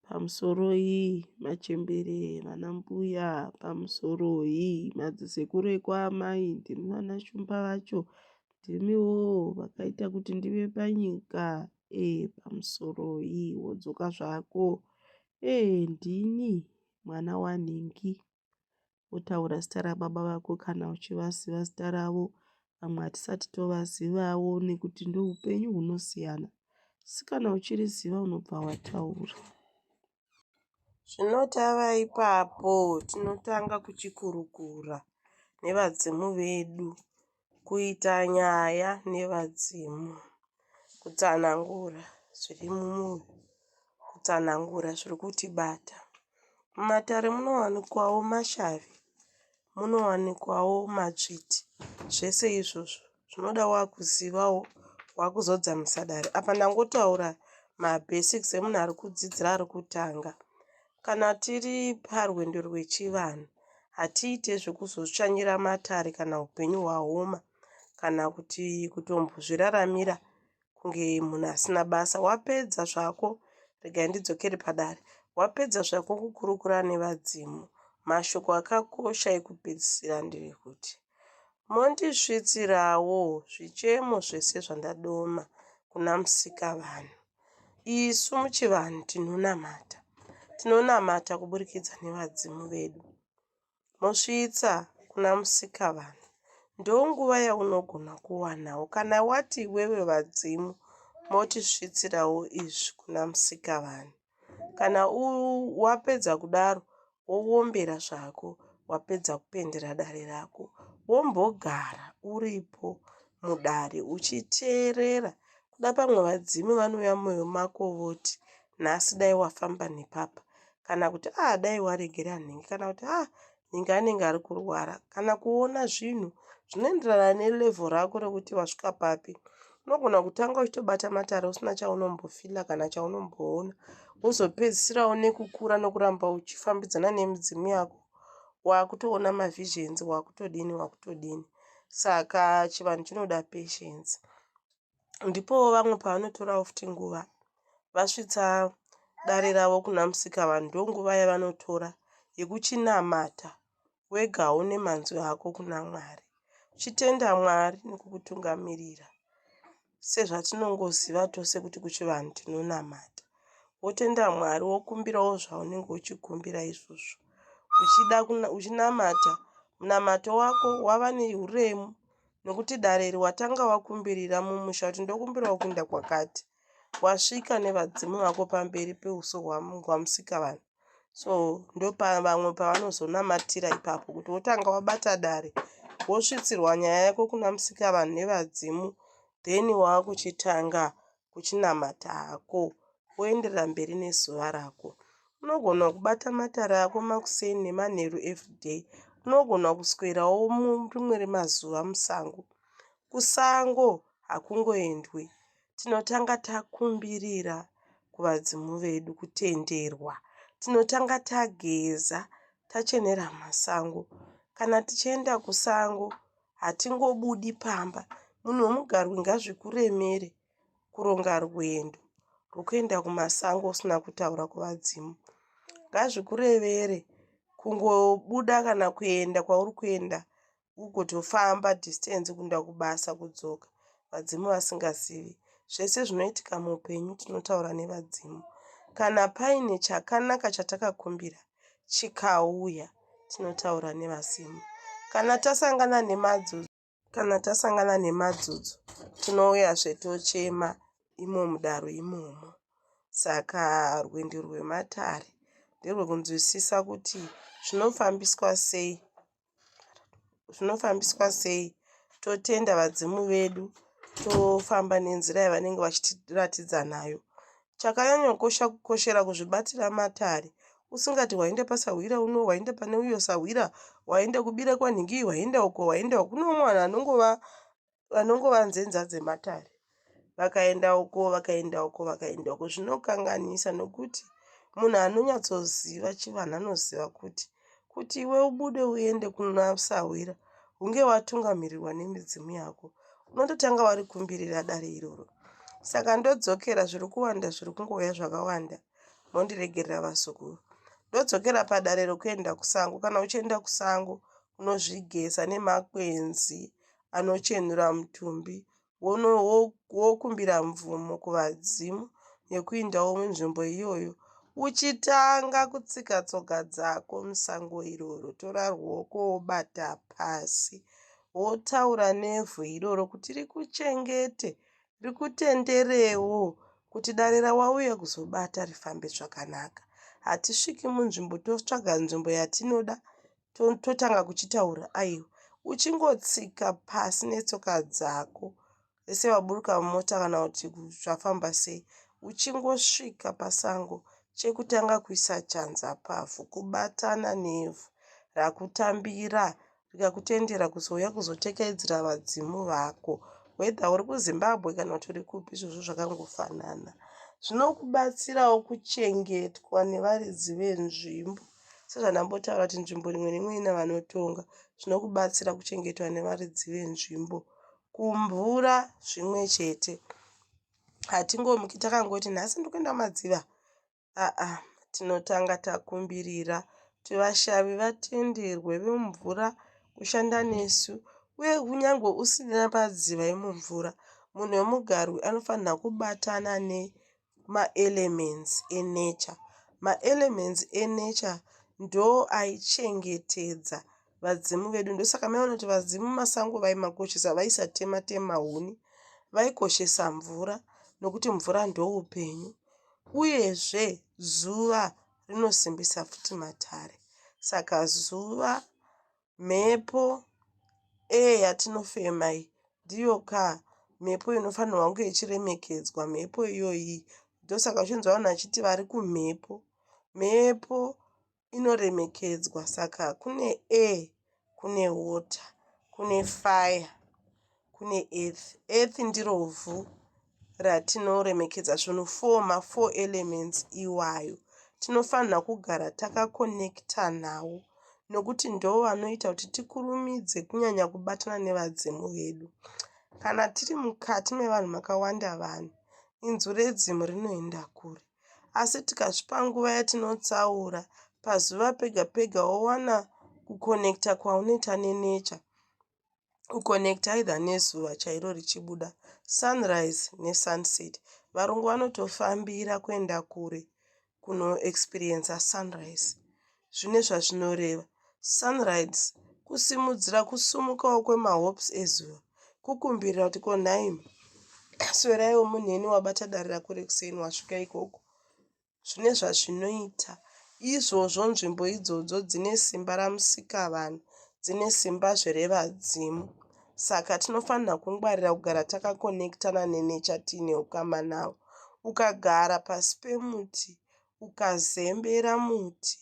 pamusoroi machembere vana mbuya pamusoroi madzisekuru ekwaamai ndimi vana shumba vacho ndimiwo vakaita kuti ndive panyika e pamusoroi wodzoka zvako e ndini mwana wanhingi wotaura zita rababa vako kana uchivaziva zita ravo vamwe hatisati tovazivawo nekuti ndoupenyu hunosiyana asi kana uchiriziva unobva wataura zvinotava ipapo tinotanga kuchikurukura nevadzimu vedu Kuita nyaya nevadzimu. Kutsanangura zviri mumwoyo. Kutsanangura zviri kutibata. Mumatare munowanikwawo mashavi, munowanikwawo matsviti. Zvese izvozvo zvinoda wakuzivawo, wakuzodza musadare. Apa ndangotaura mabhesiksi emunhu ari kudzidzira ari kutanga. Kana tiri parwendo rwechivanhu, hatiite zvekuzotsvanyira matare kana upenyu hwaoma kana kuti kutombozviraramira kunge munhu asina basa. Wapedza zvako, regai ndidzokere padare, wapedza zvako kukurukura nevadzimu. Mashoko akakosha ekupedzisira ndevekuti, Mondisvitsirawo zvichemo zvese zvandadoma kuna Musikavanhu. Isu muchivanhu tinonamata. Tinonamata kuburikidza nevadzimu vedu. Mosvitsa kuna musikavanhu. Ndonguva yaunogona kuwanawo kana wati iwewe vadzimu motisvitsirawo izvi kuna musikavanhu. Kana wapedza kudaro woombera zvako wapedza kupendera dare rako wombogara uripo mudare uchiteerera kuda pamwe vadzimu vanouya mumwoyo mako voti nhasi dai wafamba nepapa kana kuti a ah, dai waregera nhingi kana kuti a ah, nhingi anenge ari kurwara kana kuona zvinhu zvinoenderana nelevel rako rekuti wasvika papi unogona kutanga uchitobata matare usina chaunombofila kana chaunomboona wozopedzisirawo nekukura nokuramba uchifambidzana nemidzimu yako wakutoona mavisions wakutodini wakutodini saka chivanhu chinoda patience ndipowo vamwe pavanotorawo futi nguva vasvitsa dare ravo kuna musika vanhu ndonguva yavanotora yekuchinamata wega haune manzwi hako kuna mwari uchitenda mwari nekukutungamirira sezvatinongoziva tose kuti kuchivanhu tinonamata wotenda mwari wokumbirawo zvaunenge uchikumbira izvozvo uchida uchinamata munamato wako wava neuremu nokuti dare iri watanga wakumbirira mumusha kuti ndokumbirawo kuenda kwakati wasvika nevadzimu vako pamberi peuso hwamusika vanhu so ndopavamwe pavanozonamatira ipapo kuti wotanga wabata dare wosvitsirwa nyaya yako kuna musika vanhu nevadzimu then waakuchitanga kuchinamata hako woenderera mberi nezuva rako unogona kubata matare ako makuseni nemanheru everyday unogona kuswerawo murimwe remazuva musango kusango hakungoendwi tinotanga takumbirira kuvadzimu vedu kutenderwa. Tinotanga tageza tachenera masango. Kana tichienda kusango hatingobudi pamba. Munhu wemugarwe ngazvikuremere kuronga rwendo rwekuenda kumasango usina kutaura kuvadzimu. Ngazvikurevere kungobuda kana kuenda kwauri kuenda uko tofamba distance kunda kubasa kudzoka vadzimu vasingazivi zvese zvinoitika muupenyu tinotaura nevadzimu kana paine chakanaka chatakakumbira chikauya tinotaura nevadzimu kana tasangana nemadzudzo kana tasangana nemadzudzo tinouya zvetochema imo mudaro imomo saka rwendo rwematare nderwekunzwisisa kuti zvinofambiswa sei zvinofambiswa sei totenda vadzimu vedu tofamba nenzira yavanenge vachitiratidza nayo chakanyanyokosha kukoshera kuzvibatira matare usingati waenda pasahwira uno waenda pane uyo sahwira waenda kubira kwanhingi waenda uko waenda uko kune umwe anhu anongova vanongova nzenza dzematare vakaenda uko vakaenda uko vakaenda uko zvinokanganisa nokuti munhu anonyatsoziva chivanhu anoziva kuti kuti iwe ubude uende kuna sahwira hunge watungamirirwa nemidzimu yako unototanga wari kumbirira dare iroro saka ndodzokera zviri kuwanda zviri kungouya zvakawanda mondiregerera vasukuru ndodzokera padare rokuenda kusango kana uchienda kusango unozvigeza nemakwenzi anochenura mutumbi wokumbira mvumo kuvadzimu yekuindawo munzvimbo iyoyo uchitanga kutsika tsoka dzako musango iroro tora ruoko wobata pasi wotaura nevhu iroro kuti rikuchengete rikutenderewo kuti dare rawauya kuzobata rifambe zvakanaka hatisviki munzvimbo totsvaga nzvimbo yatinoda totanga kuchitaura aiwa uchingotsika pasi netsoka dzako vese vaburuka mumota kana kuti zvafamba sei uchingosvika pasango chekutanga kuisa chanza pavhu kubatana nevhu rakutambira rikakutendera kuzouya kuzotekaidzira vadzimu vako whether uri kuzimbabwe kana kuti uri kupi izvozvo zvakangofanana zvinokubatsirawo kuchengetwa nevaridzi venzvimbo Sezvandambotaura kuti nzvimbo imwe neimwe ina vanotonga zvinokubatsira kuchengetwa nevaridzi venzvimbo. Kumvura zvimwe chete. Hatingomuki takangoti nhasi ndikuenda madziva. Aa, tinotanga takumbirira kuti vashavi vatenderwe vemumvura kushanda nesu uye kunyange usina padziva yemumvura munhu wemugarwi anofanira kubatana ne Maelements enature. Maelements enature ndoaichengetedza vadzimu vedu ndosaka maiona kuti vadzimu masango vaimakoshesa vaisatema tema huni vaikoshesa mvura nokuti mvura ndoupenyu uyezve zuva rinosimbisa futi matare saka zuva Mhepo, air, yatinofema iyi ndiyo ka mhepo inofanirwa kunge ichiremekedzwa. Mhepo iyoyi ndosaka uchinzwa vanhu vachiti vari kumhepo. Mhepo inoremekedzwa saka kune air, kune water, kune fire. Kune earth. Earth ndiro vhu ratinoremekedza svunhu for ma four elements iwayo. Tinofanirwa kugara takaconnecta nawo nokuti ndoo vanoita kuti tikurumidze kunyanya kubatana nevadzimu vedu. Kana tiri mukati mevanhu makawanda vanhu, inzwi redzimu rinoenda kure. Asi tikazvipa nguva yatinotsaura, pazuva pega pega wowana kuconnecta kwaunoita nenature. u connect either nezuva chairo richibuda sunrise nesunset varungu vanotofambira kuenda kure kunoexperiencer sunrise zvine zvazvinoreva sunrise kusimudzira kusumukawo kwemahopes ezuva kukumbirira kuti ko nhaimi sweraiwo munheni wabata dare rako rekuseni wasvika ikoko zvine zvazvinoita. Izvozvo nzvimbo idzodzo dzine simba raMusikavanhu, dzine simbazve revadzimu. Saka tinofanira kungwarira kugara takakonekitana nenecha tiine ukama navo. Ukagara pasi pemuti, ukazembera muti,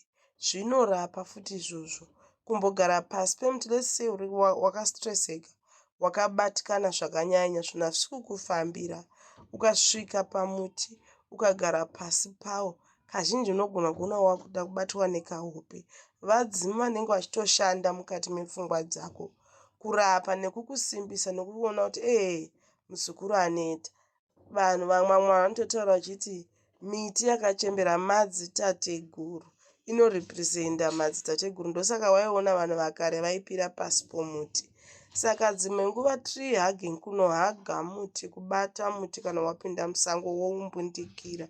zvinorapa futi izvozvo kumbogara pasi pemuti let's say uri wakastresseka wakabatikana zvakanyanya zvinhu hazvisi kukufambira ukasvika pamuti ukagara pasi pawo kazhinji unogona kuona wakuda kubatwa nekahope vadzimu vanenge vachitoshanda mukati mepfungwa dzako kurapa nekukusimbisa nekuona kuti ee muzukuru aneta Vanhu vamwamwa vanototaura vachiti miti yakachembera madzitateguru inorepresenta madzitateguru ndosaka waiona vanhu vakare vaipira pasi pomuti saka dzimwe nguva tree hugging kunohaga muti kubata muti kana wapinda musango woumbundikira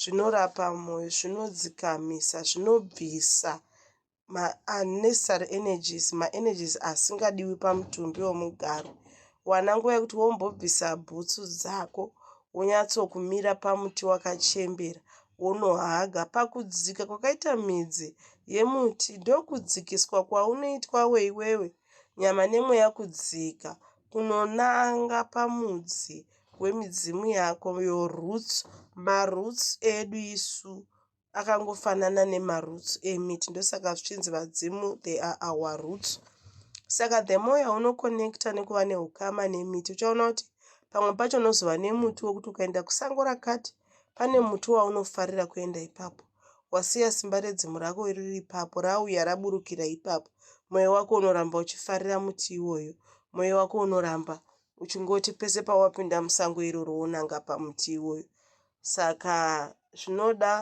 zvinorapa mwoyo zvinodzikamisa zvinobvisa ma unnecessary energies, ma energies asingadiwi pamutumbi wemugaro. Wana nguva yekuti wombobvisa bhutsu dzako wonyatsokumira pamuti wakachembera wonohaga. Pakudzika kwakaita midzi yemuti ndokudzikiswa kwaunoitwa weiwewe nyama nemweya kudzika kunonanga pamudzi wemidzimu yako yoroots maroots edu isu akangofanana nemaroots emiti ndosaka zvichinzi vadzimu they are our roots saka the more yaunoconnecta nekuva neukama nemiti uchaona kuti pamwe pacho unozova nemuti wekuti ukaenda kusango rakati pane muti waunofarira kuenda ipapo wasiya simba redzimu rako riri ipapo rauya raburukira ipapo mwoyo wako unoramba uchifarira muti iwoyo mwoyo wako unoramba uchingoti pese pawapinda musango iroro wonanga pamuti iwoyo Saka zvinoda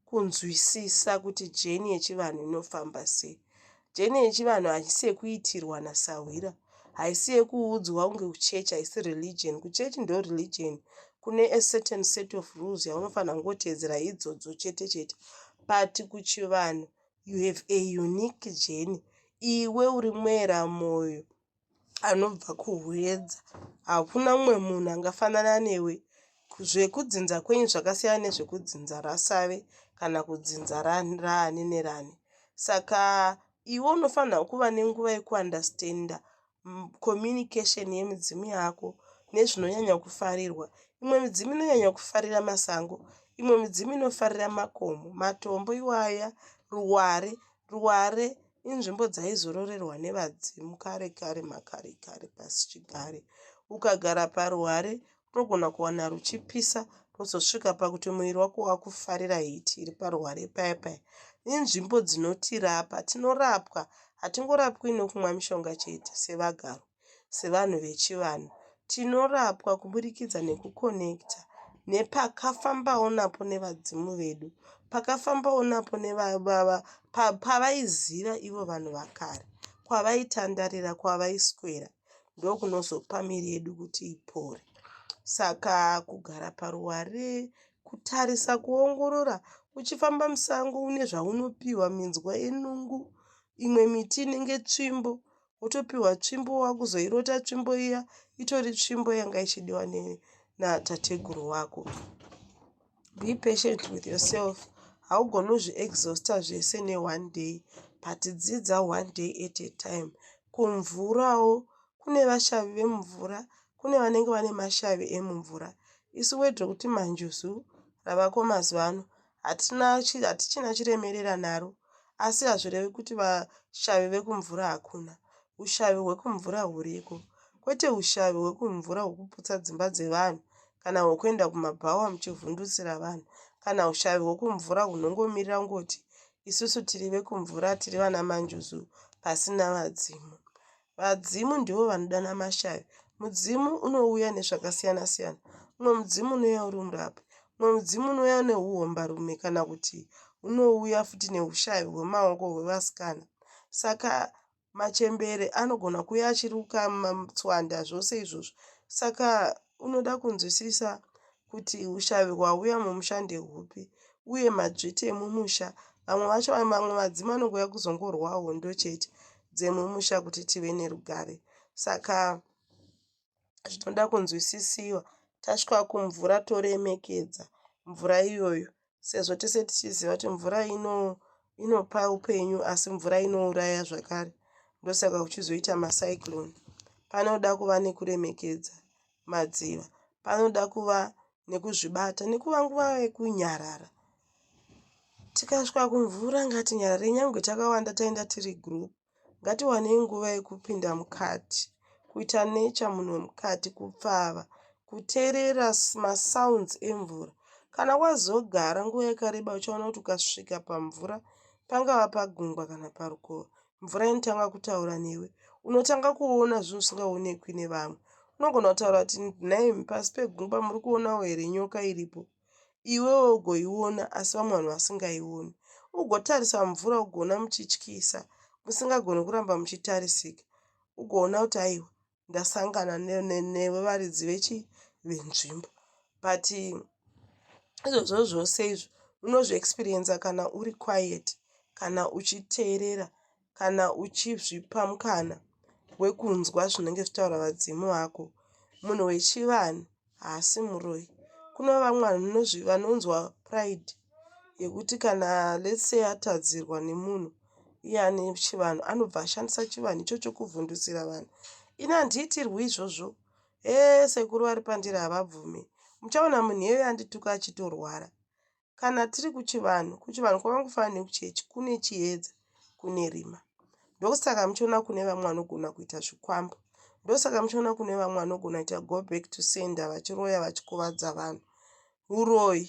kunzwisisa kuti jeni yechivanhu inofamba sei. Jeni yechivanhu haisi yekuitirwa nasahwira, haisi yekuudzwa kunge kuchechi, haisi religion. Kuchechi ndo religion, kune a certain set of rules yaunofanira kungoteedzera idzodzo chete chete. But kuchivanhu you have a unique jeni, iwe uri mwera moyo anobva kuHwedza. Hakuna umwe munhu angafanana newe. Zvekudzinza kwenyu zvakasiyana nezvekudzinza raSave kana kudzinza raani neraani. Saka iwe unofanirwa kuva nenguva yekuandastenda kominikesheni yemidzimu yako nezvinonyanya kufarirwa. Imwe midzimu inonyanya kufarira masango, imwe midzimu inofarira makomo, matombo iwaya, ruware. Ruware inzvimbo dzaizororerwa nevadzimu kare kare makare kare pasi chigare. Ukagara paruware unogona kuwana ruchipisa rwozosvika pakuti muviri wako wakufarira hiti iri paruware paya paya. Inzvimbo dzinotirapa, tinorapwa, hatingorapwi nokumwa mishonga chete sevagaro. sevanhu vechivanhu tinorapwa kuburikidza nekukonekita nepakafambawo napo nevadzimu vedu pakafambawo napo nevababa pavaiziva ivo vanhu vakare kwavaitandarira kwavaiswera ndokunozopa miri yedu kuti ipore saka kugara paruware kutarisa kuongorora uchifamba musango une zvaunopiwa minzwa yenungu imwe miti inenge tsvimbo wotopiwa tsvimbo wakuzoirota tsvimbo iya itori tsvimbo yanga ichidiwa natateguru wako be patient with yourself haugoni uzviexhausta zvese neone day but dzidza one day at a time kumvurawo kune vashavi vemumvura kune vanenge vane mashavi emumvura isu wedrokuti manjuzu ravako mazuva ano Hatina, hatichina chiremerera naro, asi hazvirevi kuti vashavi vekumvura hakuna. Ushavi hwekumvura huriko, kwete ushavi hwekumvura hwokuputsa dzimba dzevanhu kana hwokuenda kumabhawa muchivhundutsira vanhu kana ushavi hwokumvura hunongomirira kungoti isusu tiri vekumvura, tiri vanamanjuzu pasina vadzimu. Vadzimu ndivo vanodana mashavi. Mudzimu unouya nezvakasiyana siyana. Umwe mudzimu unouya uri murapi. Umwe mudzimu unouya neuhombarume kana kuti unouya futi neushavi hwemaoko hwevasikana. Saka machembere anogona kuuya achiruka matswanda zvose izvozvo. Saka unoda kunzwisisa kuti hushavi hwauya mumusha ndehupi uye madzviti emumusha vamwe vacho vamwe vadzima anongouya kuzongorwa hondo chete dzemumusha kuti tive nerugare saka zvinoda kunzwisisiwa tasvika kumvura toremekedza mvura iyoyo sezvo tese tichiziva kuti mvura ino inopa upenyu asi mvura inouraya zvakare ndosaka kuchizoita macyclone panoda kuva nekuremekedza madziva panoda kuva nekuzvibata nekuva nguva yekunyarara tikasvika kumvura ngatinyarare nyangwe takawanda taenda tiri group Ngatiwanei nguva yekupinda mukati, kuita nature munhu wemukati, kupfava, kuteerera masounds emvura. Kana wazogara nguva yakareba uchaona kuti ukasvika pamvura, pangava pagungwa kana parukova, mvura inotanga kutaura newe. Unotanga kuona zvinhu zvisingaonekwi nevamwe. Unogona kutaura kuti nhaimi pasi pegungwa muri kuonawo here nyoka iripo? iwewe ugoiona asi vamwe vanhu vasingaioni, ugotarisa mumvura ugoona muchityisa musingagoni kuramba muchitarisika, ugoona kuti aiwa ndasangana newe varidzi vechi venzvimbo but izvozvo zvose izvi unozviexperiencer kana uri quiet kana uchiteerera kana uchizvipa mukana wekunzwa zvinenge zvichitaura vadzimu vako. Munhu wechivanhu haasi muroyi. Kune vamwe vanhu vanonzwa pride yekuti kana let's say atadzirwa nemunhu iye ane chivanhu anobva ashandisa chivanhu ichocho kuvhundusira vanhu. Ini handiitirwi izvozvo. Hee sekuru vari pandiri havabvume. Muchaona munhu iyeyo andituka achitorwara. kana tiri kuchivanhu kuchivanhu kwakangofanana nekuchechi kune chiedza kune rima ndosaka muchiona kune vamwe vanogona kuita zvikwambo ndosaka muchiona kune vamwe vanogona kuita go back to sender vachiroya vachikuvadza vanhu uroyi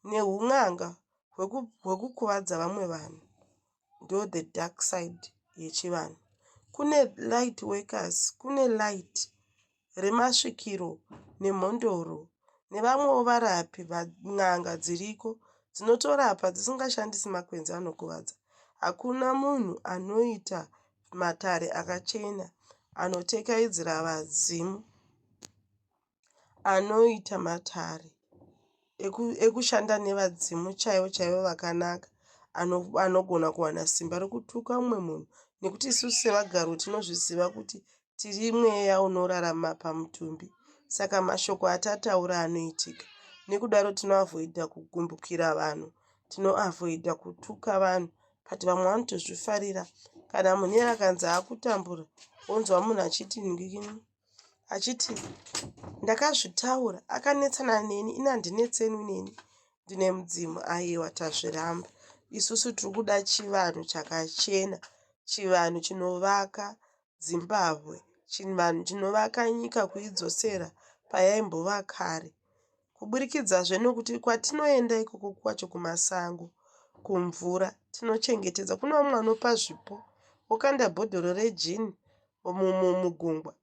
neun'anga hwekukuvadza vamwe vanhu ndo the dark side yechivanhu. Kune light workers, kune light remasvikiro nemhondoro nevamwewo varapi, n'anga dziriko dzinotorapa dzisingashandisi makwenzi anokuvadza. Hakuna munhu anoita matare akachena anotekaidzira vadzimu. anoita matare ekushanda nevadzimu chaivo chaivo vakanaka anogona kuwana simba rekutuka umwe munhu nekuti isusu sevagaro tinozviziva kuti tiri mweya unorarama pamutumbi saka mashoko atataura anoitika nekudaro tinoavhoidha kugumbukira vanhu tinoavhoidha kutuka vanhu but vamwe vanotozvifarira kana munhu iye akanzi akutambura wonzwa munhu achiti ndikini achiti ndakazvitaura akanetsana neni ini handinetsenwi neni ndine mudzimu aiwa tazviramba isusu tiri kuda chivanhu chakachena chivanhu chinovaka zimbabwe chivanhu chinovaka nyika kuidzosera payaimbova kare kuburikidzazve nokuti kwatinoenda ikoko kwacho kumasango kumvura tinochengetedza kune vamwe vanopa zvipo wokanda bhodhoro rejini mugungwa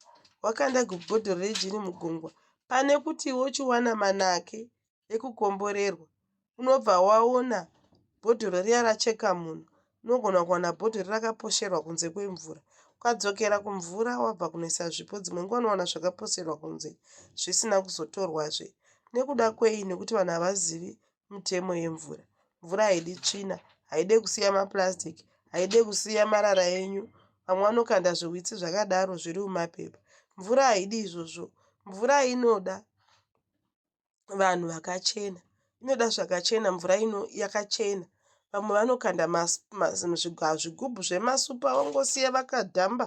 wakanda bhodhoro rejini mugungwa pane kuti wochiwana manake ekukomborerwa unobva waona bhodhoro riya racheka munhu unogona kuwana bhodhoro riya rakaposherwa kunze kwemvura ukadzokera kumvura wabva kunoisa zvipo dzimwe nguva unowana zvakaposerwa kunze zvisina kuzotorwazve nekuda kwei nekuti vanhu havazivi mitemo yemvura. Mvura haidi tsvina, haide kusiya maplastic, haide kusiya marara enyu. Vamwe vanokanda zviwitsi zvakadaro zviri mumapepa. Mvura haidi izvozvo. Mvura inoda vanhu vakachena. Inoda zvakachena mvura ino yakachena. Vamwe vanokanda zvigubhu zvemasupa vongosiya vakadhamba.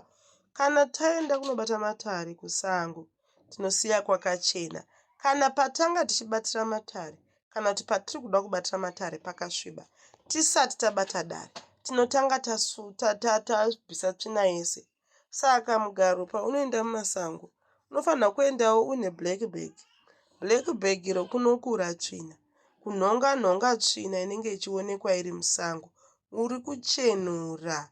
Kana taenda kunobata matare kusango. tinosiya kwakachena kana patanga tichibatira matare kana kuti patiri kuda kubatira matare pakasviba. Tisati tabata dare tinotanga tabvisa tsvina yese. Saka mugaro paunoenda mumasango unofanirwa kuendawo une black bag. Black bag iro kunokura tsvina, kunhonga nhonga tsvina inenge ichionekwa iri musango uri kuchenura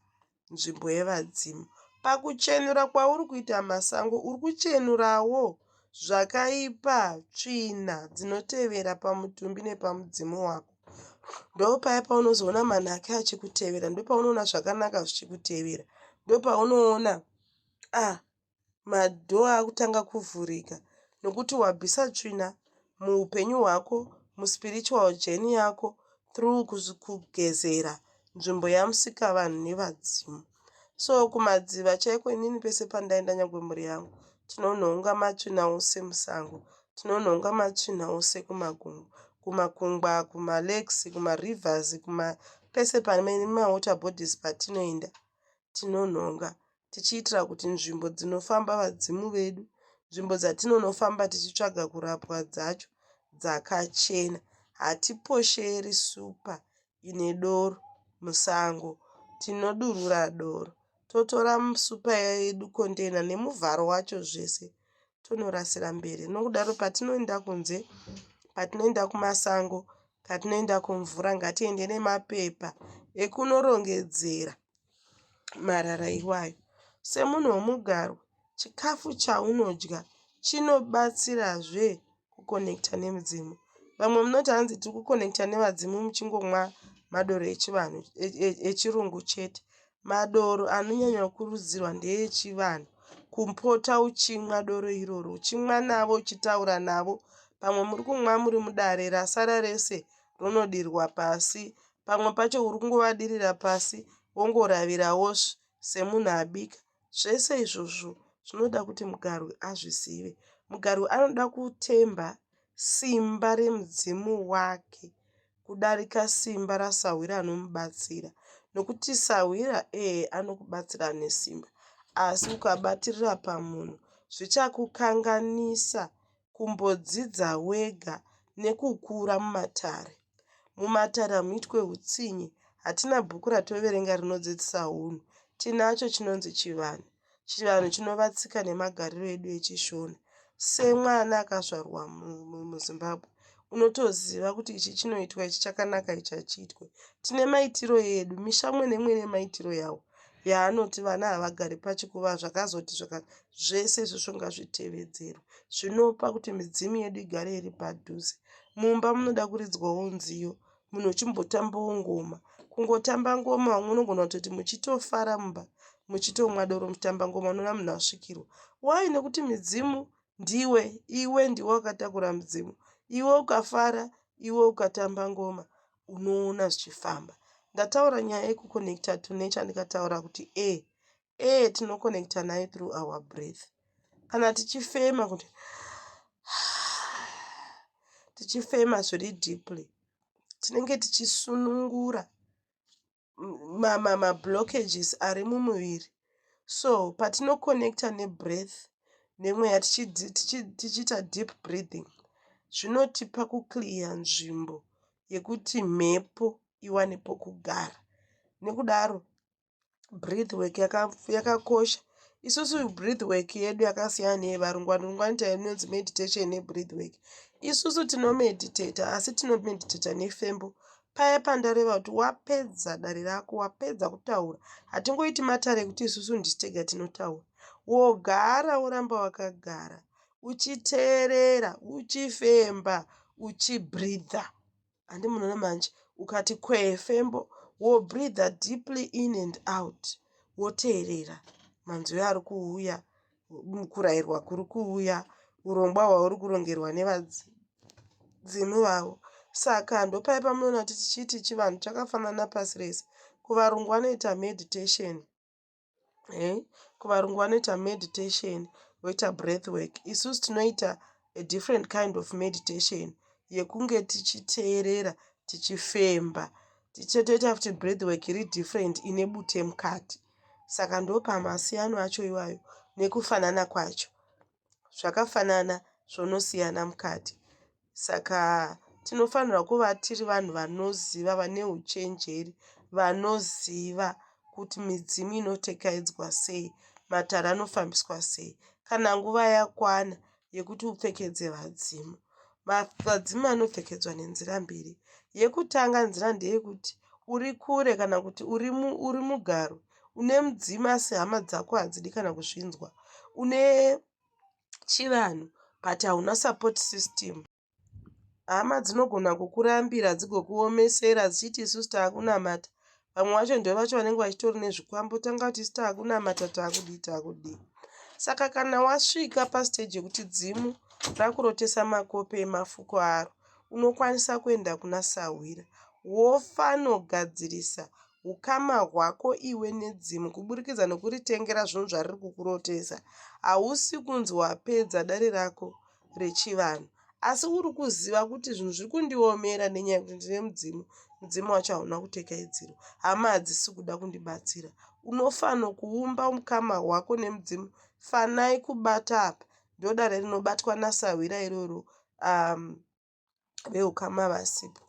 nzvimbo yevadzimu. Pakuchenura kwauri kuita masango uri kuchenurawo zvakaipa, tsvina dzinotevera pamutumbi nepamudzimu wako. Ndopaya paunozoona manhaka achikutevera, ndopaunoona zvakanaka zvichikutevera, ndopaunoona ah, madoor akutanga kuvhurika nokuti wabvisa tsvina muupenyu hwako muspiritual journey yako through kugezera nzvimbo yamusikavanhu nevadzimu so kumadziva chaiko inini pese pandaenda nyangwe mhuri yangu tinonhonga matsvina ose musango tinonhonga matsvina ose kumakungu kumakungwa kumalakes kumarivers kuma pese pane mawater bodies patinoenda tinonhonga tichiitira kuti nzvimbo dzinofamba vadzimu vedu, nzvimbo dzatinonofamba tichitsvaga kurapwa dzacho dzakachena. Hatiposheri supa ine doro musango. Tinodurura doro, totora supa yedu, kondeina nemuvharo wacho zvese tonorasira mberi. Nokudaro patinoenda kunze, patinoenda kumasango, patinoenda kumvura ngatiende nemapepa ekunorongedzera marara iwayo. Semunhu wemugaro chikafu chaunodya chinobatsirazve kukonekita nemidzimu. Vamwe munoti hanzi tiri kukonekita nevadzimu muchingomwa madoro echivanhu echirungu chete. Madoro anonyanya kukurudzirwa ndeechivanhu. Kupota uchimwa doro iroro uchimwa navo uchitaura navo. Pamwe muri kumwa muri mudare rasara rese ronodirwa pasi pamwe pacho uri kungovadirira pasi wongoravirawo semunhu abika. Zvese izvozvo zvinoda kuti mugarwi azvizive. Mugarwi anoda kutemba simba remudzimu wake kudarika simba rasahwira anomubatsira nokuti sahwira ee anokubatsira nesimba asi ukabatirira pamunhu zvichakukanganisa kumbodzidza wega nekukura mumatare. Mumatare hamuitwe hutsinye. Hatina bhuku ratoverenga rinodzidzisa hunhu. Tinacho chinonzi chivanhu. Chivanhu chinova tsika nemagariro edu echishona. Semwana akazvarwa muZimbabwe unotoziva kuti ichi chinoitwa ichi chakanaka ichi hachiitwe. Tine maitiro edu, misha umwe neumwe ine maitiro yawo. yaanoti vana havagari pachikuva zvakazoti zvaka zvese izvozvo ngazvitevedzerwe zvinopa kuti midzimu yedu igare iri padhuze mumba munoda kuridzwawo nziyo munhu uchimbotambawo ngoma kungotamba ngoma vamwe unogona kutoti muchitofara mumba muchitomwa doro muchitamba ngoma unoona munhu asvikirwa wai nekuti midzimu ndiwe iwe ndiwe wakatakura midzimu iwe ukafara iwe ukatamba ngoma unoona zvichifamba ndataura nyaya yekuconnecta to nature ndikataura kuti e e tinoconnecta nayo through our breath kana tichifema kuti tichifema zviri deeply tinenge tichisunungura ma ma ma blockages ari mumuviri so patino connecta ne breath nemweya tichiita deep breathing zvinotipa kuclear nzvimbo yekuti mhepo iwane pokugara nekudaro breath work yakakosha yaka isusu breath work yedu yakasiyana neyevarungu varungu vanoita inonzi meditation nebreath work isusu tinomeditata asi tinomeditata nefembo Paya pandareva kuti wapedza dare rako wapedza kutaura hatingoiti matare ekuti isusu ndisu tega tinotaura wogara woramba wakagara uchiteerera uchifemba uchibreatha handi munoona manje ukati kwefembo wobreatha deeply in and out woteerera manzwi ari kuuya mukurairwa kuri kuuya urongwa hwauri kurongerwa nevadzimu vavo saka ndopaye pamunoona kuti tichiti chivanhu chakafanana pasi rese kuvarungu vanoita meditation eh? kuvarungu vanoita meditation voita breath work isusu tinoita a different kind of meditation yekunge tichiteerera tichifemba tichitoita futi breath work iri different ine bute mukati Saka ndopamasiyano acho iwayo nekufanana kwacho. Zvakafanana zvonosiyana mukati. Saka tinofanirwa kuva tiri vanhu vanoziva, vane huchenjeri, vanoziva kuti midzimu inotekaidzwa sei, matare anofambiswa sei. Kana nguva yakwana yekuti upfekedze vadzimu. Vadzimu vanopfekedzwa nenzira mbiri. Yekutanga nzira ndeyekuti uri kure kana kuti uri, mu, uri mugaro une mudzimu asi hama dzako hadzidi kana kuzvinzwa. Une chivanhu but hauna support system. Hama dzinogona kukurambira dzigokuomesera dzichiti isusu takunamata. Vamwe vacho ndovacho vanenge vachitori nezvikwambo tanga kuti isu takunamata takudii takudii. Saka kana wasvika pastage yekuti dzimu rakurotesa makope emafuko aro unokwanisa kuenda kuna sahwira wofanogadzirisa ukama hwako iwe nedzimu kuburikidza nokuritengera zvinhu zvariri kukurotesa. Hausi kunzi wapedza dare rako rechivanhu asi uri kuziva kuti zvinhu zviri kundiomera nenyaya yekuti ndine mudzimu mudzimu wacho hauna kutekaidzirwa hama hadzisi kuda kundibatsira unofanira kuumba mukama wako nemudzimu fanai kubata apa ndodare rinobatwa nasahwira iroro um, veukama vasipo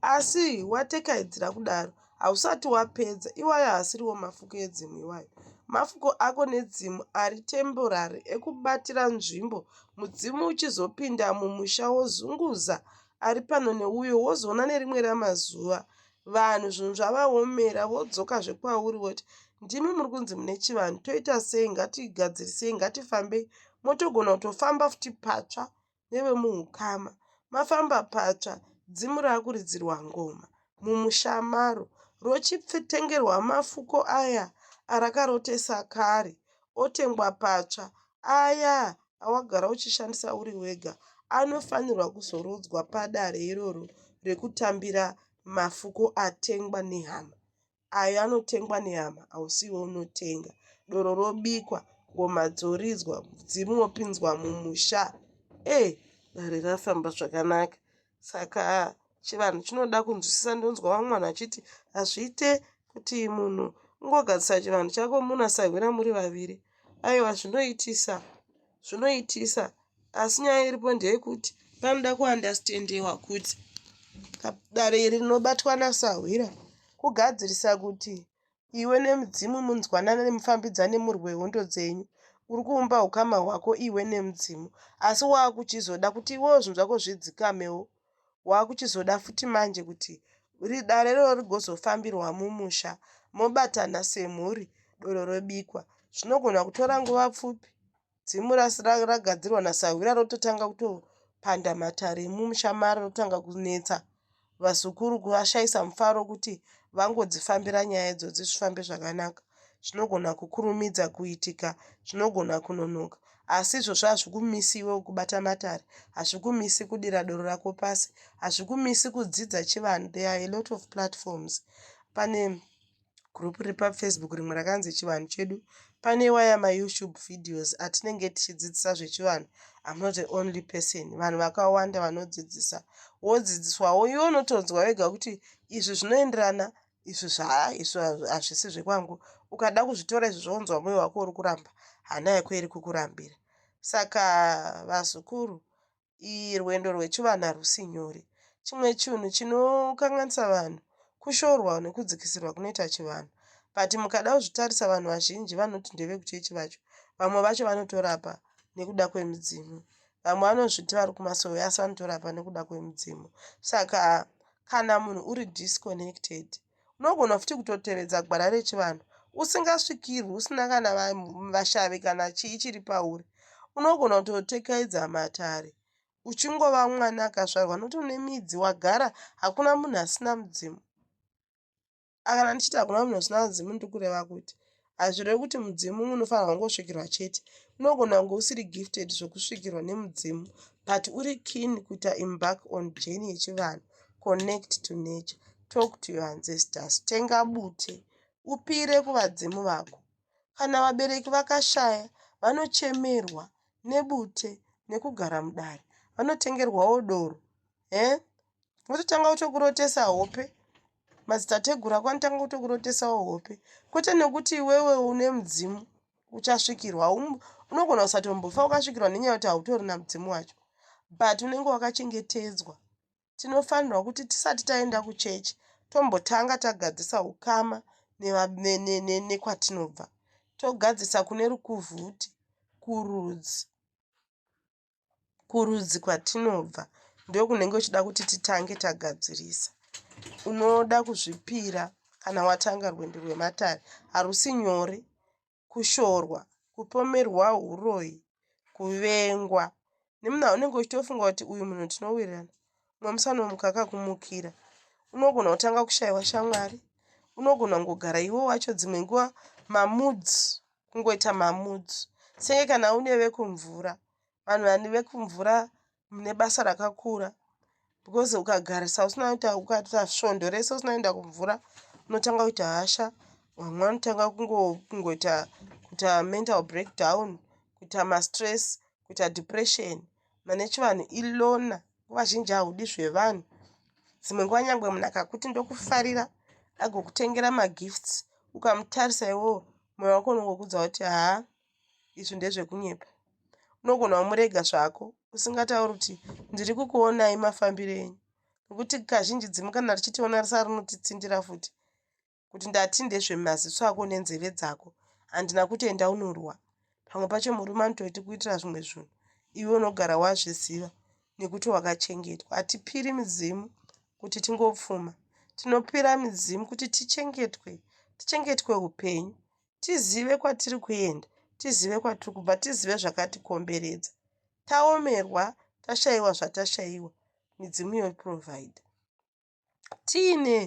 asi watekaidzira kudaro hausati wapedza iwayo haasiriwo mafuko edzimu iwayo mafuko ako nedzimu ari temporary ekubatira nzvimbo mudzimu uchizopinda mumusha wozunguza ari pano neuyo wozoona nerimwe ramazuva vanhu zvinhu zvavaomera vodzoka zvekwauri voti ndimi muri kunzi mune chivanhu toita sei ngatigadzirisei ngatifambei motogona kutofamba futi patsva nevemuhukama mafamba patsva dzimu rakuridzirwa ngoma mumusha maro rochitengerwa mafuko aya arakarotesa kare otengwa patsva aya awagara uchishandisa uri wega anofanirwa kuzorodzwa padare iroro rekutambira mafuko atengwa nehama ayo anotengwa nehama hausiwo unotenga doro robikwa ngoma dzoridzwa mudzimu wopinzwa mumusha e eh, dare rafamba zvakanaka saka chivanhu chinoda kunzwisisa ndonzwa vamwe vanhu vachiti hazviite kuti munhu ungogadzisa chivanhu chako munasahwira muri vaviri aiwa zvinoitisa zvinoitisa asi nyaya iripo ndeyekuti panoda kuandastendewa kuti dare iri rinobatwa nasahwira kugadzirisa kuti iwe nemudzimu munzwanane nemufambidzane murwe hondo dzenyu uri kuumba ukama hwako iwe nemudzimu asi waakuchizoda kuti iwewo zvinhu zvako zvidzikamewo wakuchizoda futi manje kuti dare iroro rigozofambirwa mumusha mobatana semhuri doro robikwa zvinogona kutora nguva pfupi dzimu ragadzirwa nasahwira rototanga kutopanda matare emumusha maro rotanga kunetsa vazukuru kuvashaisa mufaro kuti vangodzifambira nyaya idzodzi zvifambe zvakanaka zvinogona kukurumidza kuitika, zvinogona kunonoka. Asi izvozvo hazvikumisi iwewe kubata matare, hazvikumisi kudira doro rako pasi, hazvikumisi kudzidza chivanhu. There are a lot of platforms. Pane group riri pafacebook rimwe rakanzi chivanhu chedu pane waya mayoutube videos atinenge tichidzidzisa zvechivanhu am not the only person vanhu vakawanda vanodzidzisa wodzidziswawo iwe unotonzwa wega kuti izvi zvinoenderana izvi zva izvi hazvisi zvekwangu ukada kuzvitora izvi zvonzwa moyo wako uri kuramba hana yako iri kukurambira saka vazukuru iyi rwendo rwechivanhu harusi nyore chimwe chinhu chinokanganisa vanhu kushorwa nekudzikisirwa kunoita chivanhu but mukada kuzvitarisa vanhu vazhinji vanoti ndevekuchechi vacho vamwe vacho vanotorapa nekuda kwemidzimu vamwe vanozviti vari kumasowe asi vanotorapa nekuda kwemidzimu saka kana munhu uri disconnected unogona futi kutotevedza gwara rechivanhu usingasvikirwi usina kana vashavi kana chii chiri pauri unogona kutotekaidza matare uchingova mwana akazvarwa nokuti une midzi wagara hakuna munhu asina mudzimu A Kana ndichiti hakuna munhu asina mudzimu ndiri kureva kuti hazvirevi kuti mudzimu umwe unofanirwa kungosvikirwa chete. Unogona kunge usiri gifted zvokusvikirwa nemudzimu but uri keen kuita embark on journey yechivanhu, connect to nature, talk to your ancestors, tenga bute, upire kuvadzimu vako. Kana vabereki vakashaya, vanochemerwa nebute nekugara mudare, vanotengerwawo doro. Eh? Vototanga kutokurotesa hope Madzitateguru ako anotanga kutokurotesawo hope kwete nekuti iwewe une mudzimu uchasvikirwa unogona kusatombofa ukasvikirwa nenyaya yekuti hautorina mudzimu wacho but unenge wakachengetedzwa tinofanirwa kuti tisati taenda kuchechi tombotanga tagadzisa ukama nekwatinobva togadzisa kune rukuvhuti kurudzi kurudzi kwatinobva ndokunenge uchida kuti titange tagadzirisa unoda kuzvipira kana watanga rwendo rwematare harusi nyore kushorwa kupomerwa uroyi kuvengwa nemuna unenge uchitofunga kuti uyu munhu tinowirirana mumwe musi anomuka akakumukira unogona kutanga kushayiwa shamwari unogona kungogara iwo wacho dzimwe nguva mamoods kungoita mamoods senge kana une vekumvura vanhu vani vekumvura mune basa rakakura because ukagarisa usina kuita ukaita svondo rese usina kuenda kumvura unotanga kuita hasha vamwe vanotanga kungoita kuita mental breakdown kuita mastress kuita depression mane chivanhu ilona nguva zhinji haudi zvevanhu dzimwe nguva nyangwe munhu akakuti ndokufarira agokutengera magifts ukamutarisa iwoo moyo wako unongokudza kuti haa izvi ndezvekunyepa unogona wamurega zvako usingatauri kuti ndiri kukuonai mafambiro enyu nokuti kazhinji dzimu kana richitiona risa rinotitsindira futi kuti ndati ndezvemaziso ako nenzeve dzako handina kuti enda unorwa pamwe pacho murume anototi kuitira zvimwe zvinhu iwe unogara wazviziva nekuti wakachengetwa hatipiri midzimu kuti tingopfuma tinopira midzimu kuti tichengetwe tichengetwe upenyu tizive kwatiri kuenda tizive kwatiri kubva tizive zvakatikomberedza taomerwa tashayiwa zvatashayiwa midzimu yoprovide Tiine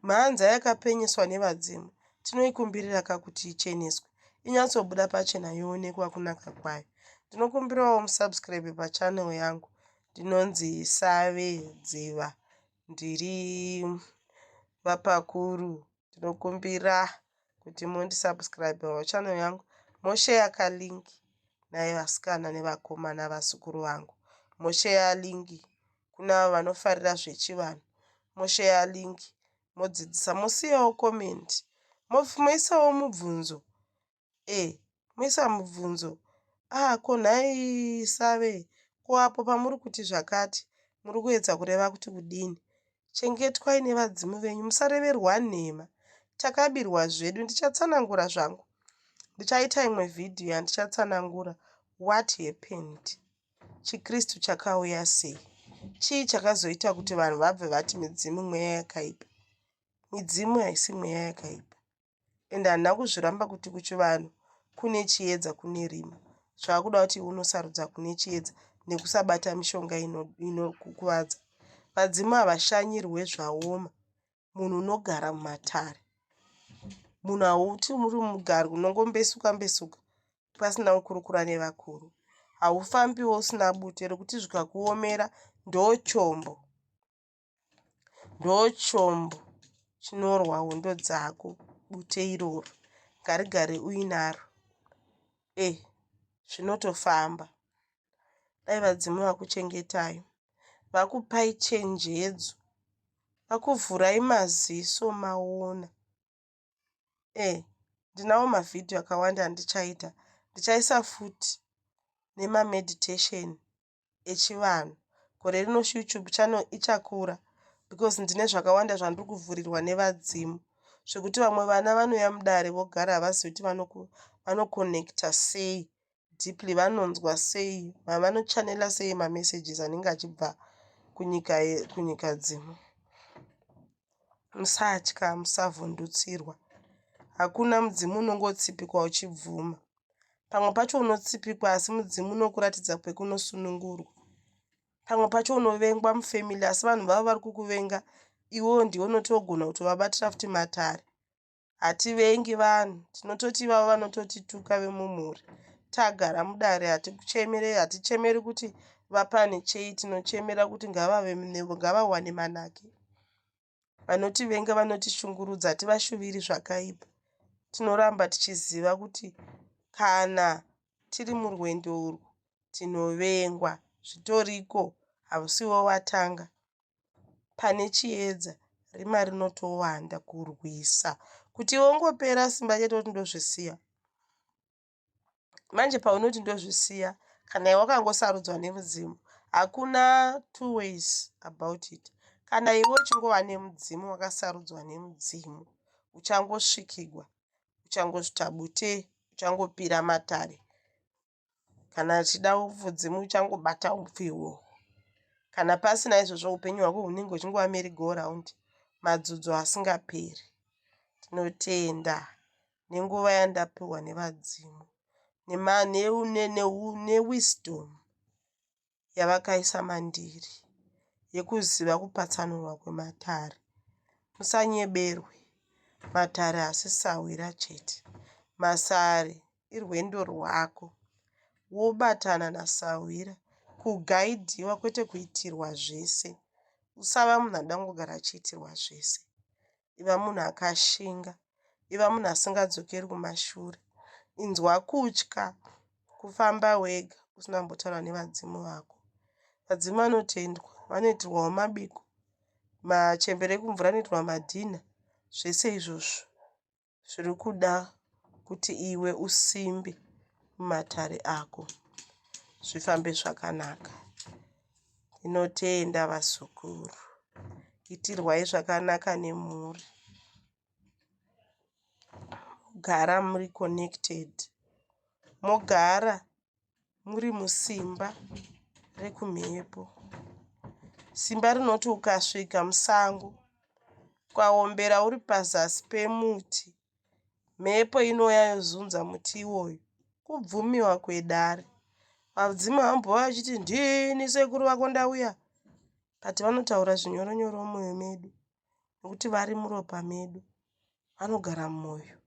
mhanza yakapenyeswa nevadzimu, tinoikumbiriraka kuti icheneswe, inyatsobuda pachena yoonekwa kunaka kwayo. Ndinokumbirawo musubscribe pachannel yangu ndinonzi Save Dziva. Ndiri vapakuru ndinokumbira kuti mundisubscribewo channel yangu mosheya kalink naye vasikana nevakomana vazukuru vangu mosheya link kunavo vanofarira zvechivanhu mosheya link modzidzisa mosiyawo comment moisawo mubvunzo Hey moisa mubvunzo ah ko nhai save ko apo pamuri kuti zvakati muri kuedza kureva kuti kudini? Chengetwai nevadzimu venyu musareverwa nhema takabirwa zvedu ndichatsanangura zvangu ndichaita imwe vhidhiyo yandichatsanangura what happened chikristu chakauya sei chii chakazoita kuti vanhu vabve vati midzimu mweya yakaipa midzimu haisi mweya yakaipa and handina kuzviramba kuti kuchivanhu kune chiedza kune rima zvaakuda kuti unosarudza kune chiedza nekusabata mishonga inokukuvadza ino vadzimu havashanyirwe zvaoma munhu unogara mumatare munhu hauti muri mugari unongombesuka mbesuka pasina kukurukura nevakuru haufambiwo usina bute rekuti zvikakuomera ndochombo Ndochombo chinorwa hondo dzako bute iroro. Ngarigare uinaro. Eh zvinotofamba. Dai vadzimu vakuchengetayo. Vakupai chenjedzo. Vakuvhurai maziso maona. Eh ndinawo mavhidhiyo akawanda andichaita. Ndichaisa futi nemameditation echivanhu gore rino YouTube channel ichakura because ndine zvakawanda zvandiri kuvhurirwa nevadzimu zvekuti vamwe vana vanouya mudare vogara havazivi kuti vanoconnecta sei deeply vanonzwa sei vavanochanela sei mamessages anenge achibva kunyika kunyika dzimu musatya musavhundutsirwa hakuna mudzimu unongotsipikwa uchibvuma Pamwe pacho unotsipikwa asi mudzimu unokuratidza kwekunosunungurwa. Pamwe pacho unovengwa mufamily asi vanhu vavo vari kukuvenga iwewo ndiwe unoti wogona kutovabatira futi matare. Hativengi vanhu, tinototi ivavo vanototituka vemumhuri. Tagara mudare hatichemeri hatichemeri kuti vapane chei tinochemera kuti ngavawane manake. Vanotivenga vanotishungurudza hativashuviri zvakaipa. Tinoramba tichiziva kuti kana tiri murwendo urwu tinovengwa. Zvitoriko, hausiwo watanga. Pane chiedza, rima rinotowanda kurwisa kuti iwe ungopera simba chete woti ndozvisiya. manje paunoti ndozvisiya kana iwe wakangosarudzwa nemudzimu hakuna two ways about it kana iwe uchingova nemudzimu wakasarudzwa nemudzimu uchangosvikigwa uchangozvita bute uchangopira matare kana achida mudzimu uchangobata upfi iwowo kana pasina izvozvo upenyu hwako hunenge uchingova meri go round madzudzo asingaperi tinotenda nenguva yandapiwa nevadzimu newisdom yavakaisa mandiri yekuziva kupatsanurwa kwematare musanyeberwe matare asi sahwira chete masare irwendo rwako wobatana nasahwira kugaidhiwa kwete kuitirwa zvese usava munhu adangogara achiitirwa zvese iva munhu akashinga, iva munhu asingadzokeri kumashure. Inzwa kutya kufamba wega usina kumbotaura nevadzimu vako. Vadzimu vanotendwa, vanoitirwawo mabiko, machembere ekumvura anoitirwa madhinha, zvese izvozvo zviri kuda kuti iwe usimbe mumatare ako zvifambe zvakanaka. Tinotenda vazukuru itirwai zvakanaka nemhuri gara muri connected mogara muri musimba rekumhepo simba rinoti ukasvika musango ukaombera uri pazasi pemuti Mhepo inouya yozunza muti iwoyu. Kubvumiwa kwedare. Vadzimu vambouya vachiti ndini sekuru vako ndauya but vanotaura zvinyoronyoro mumwoyo medu nekuti vari muropa medu vanogara mumwoyo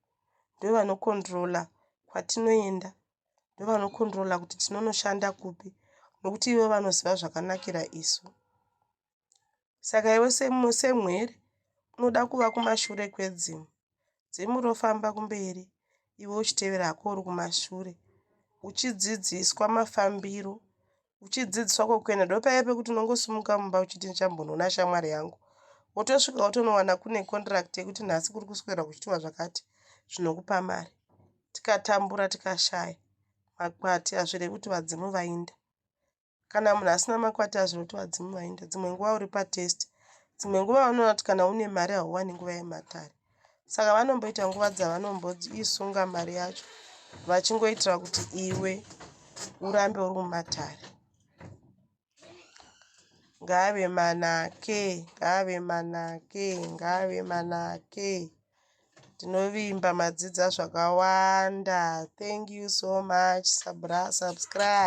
ndovanokondirola kwatinoenda ndovanokondirola kuti tinonoshanda kupi nekuti ivo vanoziva zvakanakira isu. Saka iwe semwere unoda kuva kumashure kwedzimu. Dzimu rofamba kumberi iwe uchitevera hako uri kumashure uchidzidziswa mafambiro uchidzidziswa kwekuenda ndopaya pekuti unongosimuka mumba uchiti ndichambonoona shamwari yangu wotosvika wotonowana kune contract yekuti nhasi kuri kuswera kuchitiwa zvakati zvinokupa mari tikatambura tikashaya makwati hazvirei kuti vadzimu vainda Kana munhu asina makwati azvinotova dzimwe wainda dzimwe nguva uri patest. Dzimwe nguva vanoona kuti kana une mari hauwani nguva yematare. Saka vanomboita nguva dzavanomboisunga mari yacho vachingoitira kuti iwe urambe uri mumatare ngave manake ngave manake ngave manake tinovimba madzidza zvakawanda thank you so much subscribe